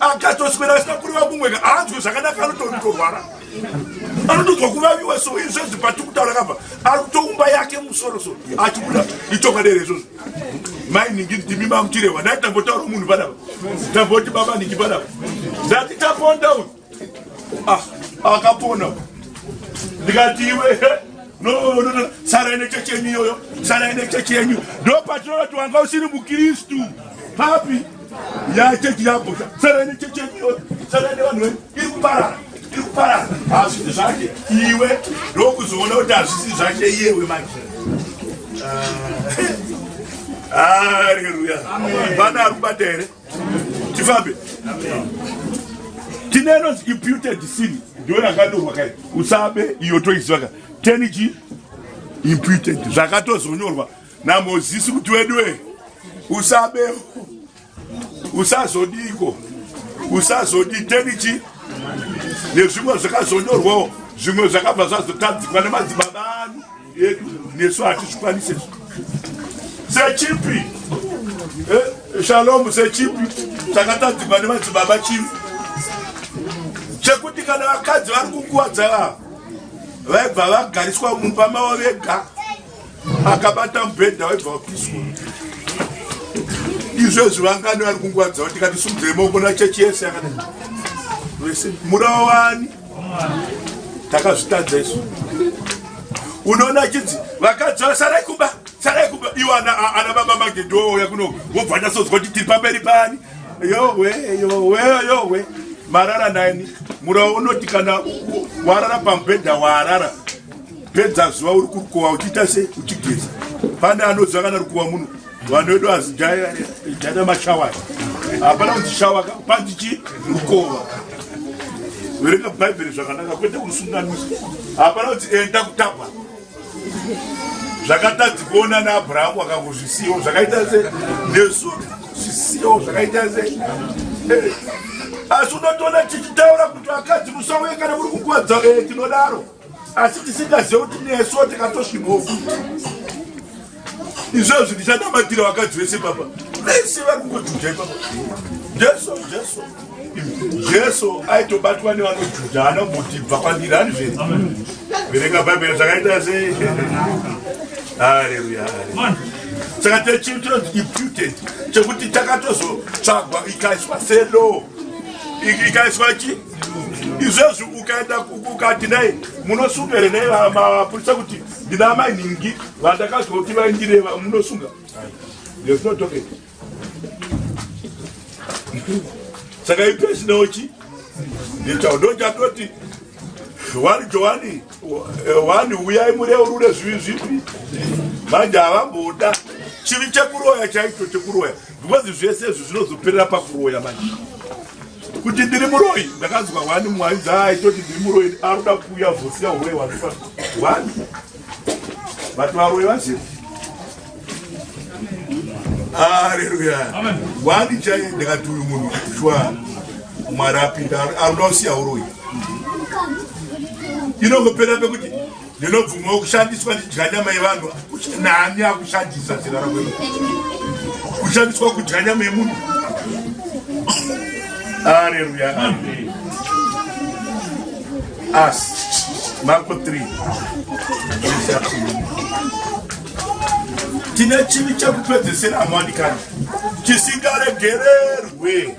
Speaker 1: akatoswera asina kureva kumweka aanzwe zvakanaka anototorwara anotodzwa kuvaviwa so izvo zvi patikutaura kava ari kutoumba yake musoro so achibuda itonga dere izvozvo mai ningi ndimi mamutirehwa ndati tambotaura munhu padava tamboti baba ningi padava ndati taponda uyu ah, akapona ndikati iwe no sara ine chechi yenyu iyoyo sara ine chechi yenyu ndo patinoti wanga usiri mukristu papi ya chechi yabhosha tsarani chechi yenyu tsarani vanhu venyu iri kuparara iri kuparara hazvisi zvake iwe ndokuzoona kuti hazvisi zvake iyewe manje haleluya ah. vana ari kubata here tifambe tine inonzi imputed sin ndiyo yakanyorwa kai usabe iyo toiziva ka teniji imputed zvakatozonyorwa Namozisi kuti wedue usabe usazodiko usazodi tenichi nezvimwe zvakazonyorwawo zvimwe zvakabva zvazotadzikwa nemadzibaba anu edu nesu hatizvikwanise sechipi eh, shalomu sechipi chakatadzikwa nemadzibaba chii chekuti kana vakadzi vari kukuvadza vava vaibva vagariswa mumba mavo vega akabata mubhedha waibva wapiswa izvezvi vangani vari kungwadza kuti kati sumudzei maoko nachechi yese yakadai vese murawa wani takazvitadza isu unoona chidzi vakadzi vasarai kuba sarai kuba iwo ana baba magedhooya kuno wobva ndasozwa kuti tiri pamberi pani yowe yowe yowe marara nani murawa unoti kana warara pamubhedha waarara pedza zuva uri kurukowa uchiita sei uchigeza pane anoziva kana rukowa muno vanhu vedu azidhaita mashawai hapana kuti shawa panzi chi rukowa verenga bhaibheri zvakanaka kwete kurusunganisa hapana kuti enda kutapa zvakatadzi kuona naabrahamu akangozvisiwo zvakaita se nesu zvisiwo zvakaita se eh, asi unotoona tichitaura kuti vakadzi musauye kana muri kukuwadza eh, tinodaro asi tisingazive kuti nesuwo tikatosvimhofu izvozvi ndichanamatira vakadzi vese papa vese vari kungojuja ipapa jesu jesu jesu aitobatwa nevanojuja hana kuti bva kwandiri hani zve verenga bhaibheri zvakaita sei haleluya saka techii chinonzi imputed chekuti takatozotsvagwa ikaiswa selo ikaiswa chii izvezvi ukaenda ukati nei munosunga here nei mapurisa kuti ndina amai nhingi vandakazwa kuti vaindireva munosunga there's no talking saka ipesinauchi ndichandochatoti wani johani wani uyai mureurure zvivi zvipi manje havamboda chivi chekuroya chaicho chekuroya because zvese izvi zvinozoperera pakuroya manje kuti ndiri muroyi ndakanzwa wani mwari dzaaitoti ndiri muroyi aruda kuuya vosiya uroyi wanifa wani vati varoyi vazii aleluya wani chai ndakati uyu munhu shwa mwari apinda aruda usiya uroyi inongopera pekuti Ndinobvumawo kushandiswa ndidya nyama yevanhu nani akushandisa zera rakwedu kushandiswa kudya nyama yemunhu aleluya as marko 3 tine chivi chekupedzesera amwandikana chisingaregererwe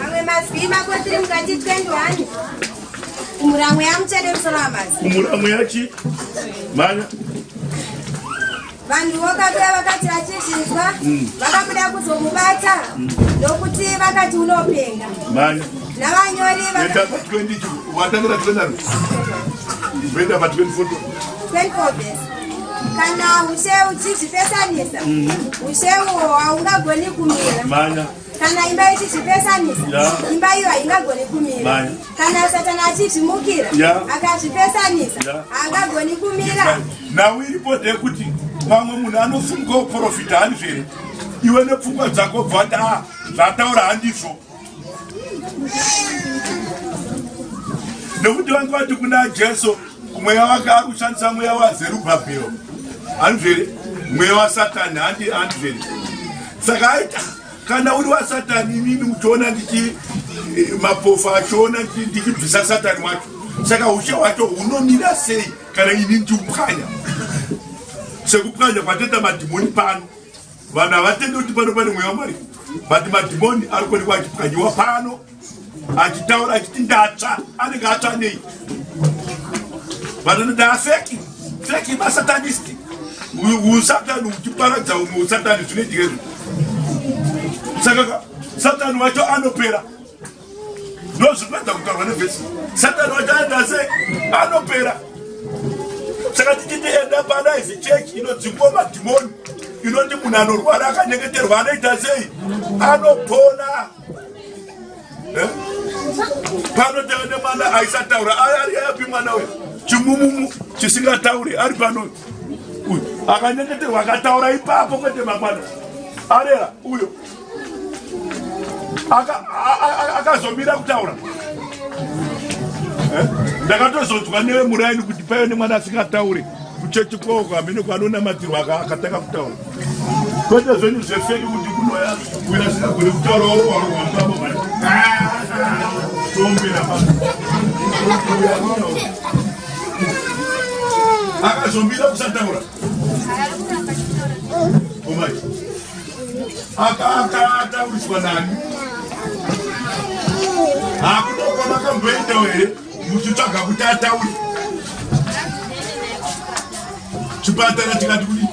Speaker 1: Mamwe mazwi mako tiri mukati 21. Kumuramwe yamuchede musoro wamazi. Kumuramwe yachi. Manya. Vanhu vokabira vakati vachizvinzwa mm. vakabuda kuzomubata mm. nokuti vakati unopenga. Manya. Navanyori vaka 20 watangira 20. Venda pa 24. 24 best kana ushe uchizvipesanisa mm. ushe uwo haungagoni kumira kana imba ichichipesanisa yeah. imba iyo haingagoni kumira Maya. kana satana achichimukira yeah. akachipesanisa yeah. haangagoni kumira nhau iripo ndeyekuti pamwe munhu anofunga kuprofita hanizvere iwe nepfungwa dzako bvati a zvataura handizvo nekuti vange vati kuna jesu Mweya wake ari kushandisa mweya waZerubhabhero, hanzvere mweya waSatani, handi hanzvere. Saka aita kana uri waSatani, inini uchiona ndichi eh, mapofa achiona ndichibvisa Satani wacho, saka ushe wacho hunomira sei kana ini ndiupwanya sekupwanya kwatoita madhimoni pano vanhu havatendi kuti pano pane mweya wamwari but madhimoni ari kuonekwa achipwanyiwa pano achitaura achiti ndatsva anenge atsva nei vanhu anoda afeki feki masatanisti usatani uchiparadza umwe usatani zvinoitika izvo saka satani wacho anopera ndozvipedza kutaurwa nevhesi satani wacho anoita sei anopera saka tichiti enda pana izi chechi inodzingwa madhimoni inoti munhu anorwara akanyengeterwa anoita sei anopona eh? pano tave nemwana aisataura ari ayapi mwana uyu chimumumu chisingatauri ari pano uyu akanyengeterwa akataura ipapo kwete mangwana arera uyo akazomira kutaura eh? ndakatozonzwa newe muraini kuti paive nemwana asingataure kuchechi kwoko hamene kwanonamatirwa akatanga kutaura kwete zvenyu zvefeki kuti kunoya kuina singagone kutaura wauwauwambamo mari tombera pa akazomira kusataura omai akatauritswa nani akutokwa makamboendawo here muchitsvaga kuti ataure chipatara chikati kudi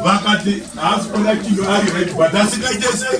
Speaker 1: vakati haasi kuona chinhu ari right but asikaite sei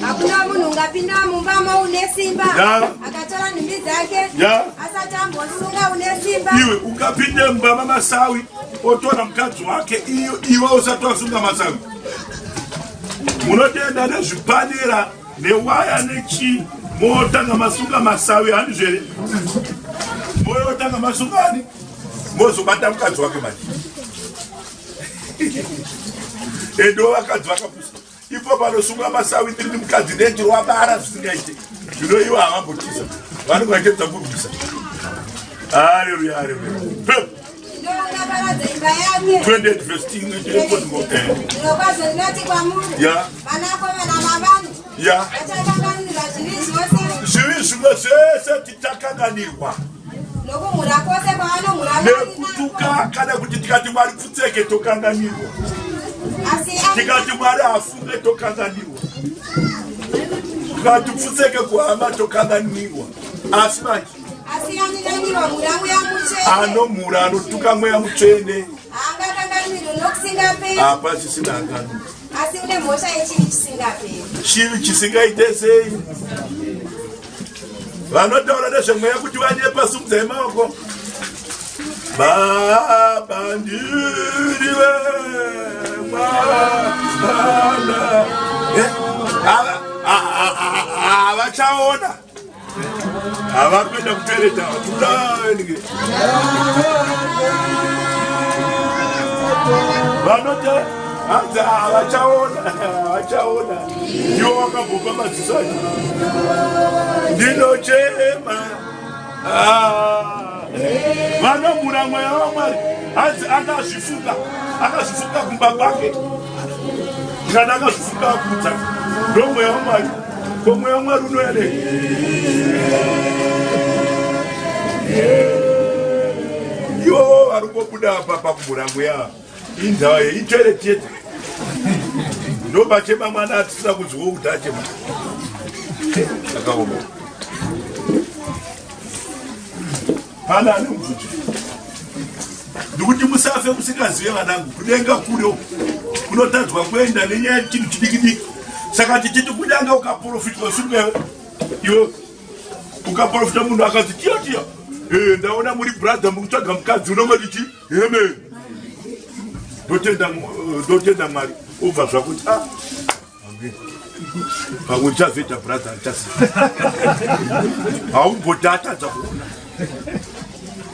Speaker 1: hakuna munhu ungapinda mumba mo une simba akatora nhumbi dzake asati ambosunga une simba iwe ungapinde mumba mamasawi otora mukadzi wake iyo iwe usati wasunga masawi munotenda nezvipanera newaya nechii motanga masunga masawi hani zvere moyotanga masunga ani mozobata mukadzi wake manje edo vakadzi vakapusa ipo panosunga masawitiri ndi mukadzi nendiro wabara zvisingaite zvino ivo havambotisa vanenge vachedza kurwisa aleluya aleluya zvivi zvimwe zvese takanganirwa nokumhura kwose kwavanomhura nekutuka kana kuti tikati mwari pfutseke tokanganirwa tikati mwari hafunge tokanganirwa tikati pfutseke kuhama tokanganirwa asi manje anomhura anotuka mweya mutsvene apa zvisina ngano asi une mhosva yechivi chisingaperi chivi chisingaite sei vanotaura nezvemweya kuti vanyepa sumudzai maoko baba ndiri vemwana eh, havachaona havakuenda kutereta tudange vanoti hanzi havachaona havachaona ndiwo wakabhopa madziso acho ndinochema ah. vanomhura mweya wamwari hanzi akazvifuka akazvifuka kumba kwake kana akazvifuka akudza ndomweya wamwari komweya wamwari unoyane yo vari kobuda apa pakumhura mweya Indawa ye itoilet yete. Ndo bachema mwana atisira kuzwo kuti achema. Akaoma. Pana ane mvuti. Ndikuti musafe musikazive vanangu kudenga kure kunotadzwa kuenda nenyaya chinhu chidikidiki. Saka tichiti kunyanga ukaprofitwa supe iwe ukaprofita munhu akazi tiyo tiyo. Eh ndaona muri brother mukutsvaga mukadzi unongoti chii? Amen. Ndotenda eh, ndotenda Mwari ubva zvakuti ah. Amen. Pamwe chazoita brother chasi. Haumbotata dzakuona.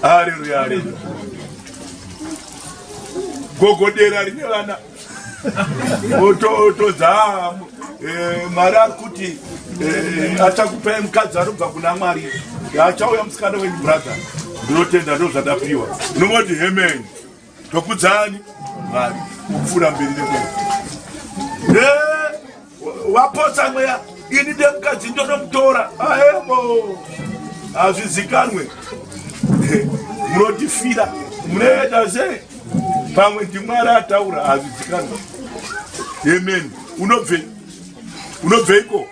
Speaker 1: Hallelujah. Hallelujah. Gogodera rine vana otodza eh, mwari ari kuti eh, achakupai mukadzi anobva kuna mwari achauya musikana wenyu brother ndinotenda ndo zvatapiwa ndinongoti hemeni tokudzani mwari kupfuura mberi nekwe Wapotsa mweya ini ndemukadzi ndonomutora aebo hazvizikanwe munotifira munoenda se pamwe ndimwari ataura hazvizikanwe amen unobvei unobveiko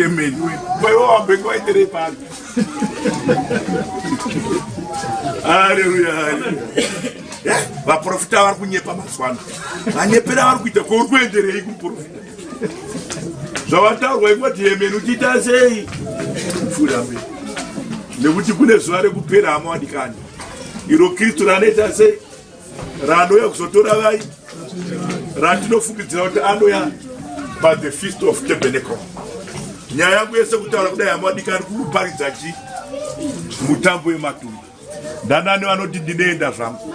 Speaker 1: amen wewe wambenge waiterei pano haleluya haleluya eh, vaprofita vari kunyepa mazuva ano vanyepera vari kuita ko uri kuenderei kumuprofita zvavataurwa ingoti yemeni uchiita sei fura mberi nekuti kune zuva rekupera hama wadikani iro kristu ranoita sei ranouya kuzotora vai ratinofungidzira kuti anouya by the feast of tabernacle nyaya yangu yese kutaura kudai hama wadikani kukuparidza chi mutambo wematumba ndanani vanoti ndinoenda zvangu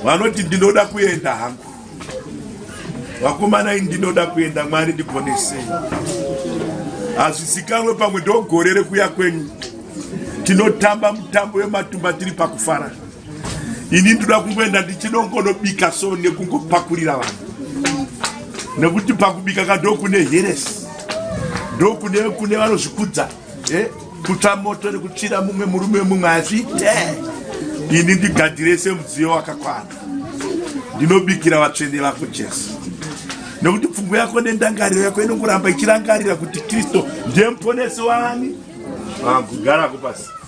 Speaker 1: vanoti ndinoda kuenda hangu vakomanai ndinoda kuenda mwari ndiponesei hazvisikanwe pamwe ndogore rekuya kwenyu tinotamba mutambo wematumba tiri pakufara ini ndoda kungoenda ndichinongonobika so nekungopakurira vanhu nekuti pakubika ka ndokune heresi ndokune kune vanozvikudza kune eh, kutsva moto nekutsvira mumwe murume mumwe hazviite ini ndigadzire semudziyo wakakwana ndinobikira vatsvene vako jesu nekuti pfungwa yako nendangariro yako inongoramba ichirangarira kuti kristu ndiye muponesi wani vangu ah, garako pasi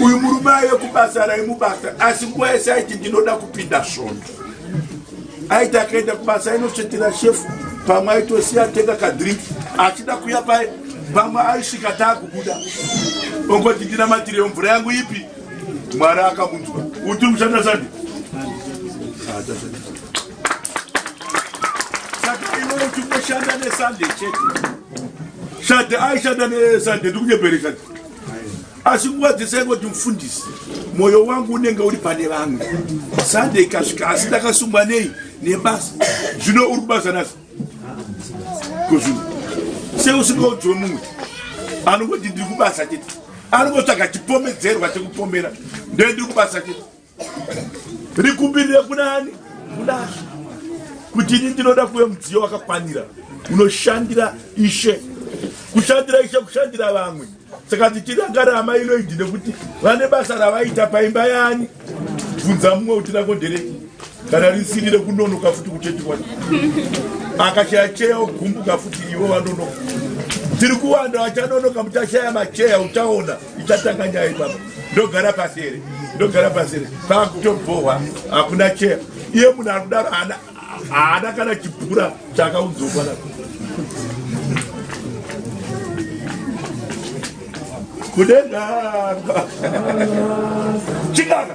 Speaker 1: uyu murume aive kubasa raimubata asi nguva yese aiti ndinoda kupinda svondo aiti akaenda kubasa ainosvetera shefu pamwe aitosiya atenga kadrink achida kuya paye pamwe aisvika taakubuda ongoti ndinamatireyo mvura yangu ipi mwari akamunzwa uti mushanda sandi saka iwe uti unoshanda nesande chete shadha aishanda nesande ndikunyebere shadha asi nguva dzese aingoti mufundisi mwoyo wangu unenge uri pane vamwe sunday ikasvika asi ndakasungwa nei nebasa zvino uri kubasa nasi kozvino seusingaudziwe mumwe anongoti ndiri kubasa chete anongotsvaga chipomedzerwa chekupomera ndee ndiri kubasa chete rikumbirire kunani kunashe kuti ini ndinoda kuve mudziyo wakakwanira unoshandira ishe kushandira ishe kushandira vamwe saka tichidangare amai loidi nekuti vane basa ravaita paimba yani bvunza mumwe kuti rako nderei kana risiri rekunonoka futi kuchetiwana akashaya cheya ogumbuka futi ivo vanonoka tiri kuwanda vachanonoka muchashaya macheya uchaona ichatanga nyaya ipapa ndogara pasi here ndogara pasi here pakutobhohwa hakuna chero iye munhu ari kudaro haana kana chipura chaakaudzokwa na kudenga chikaka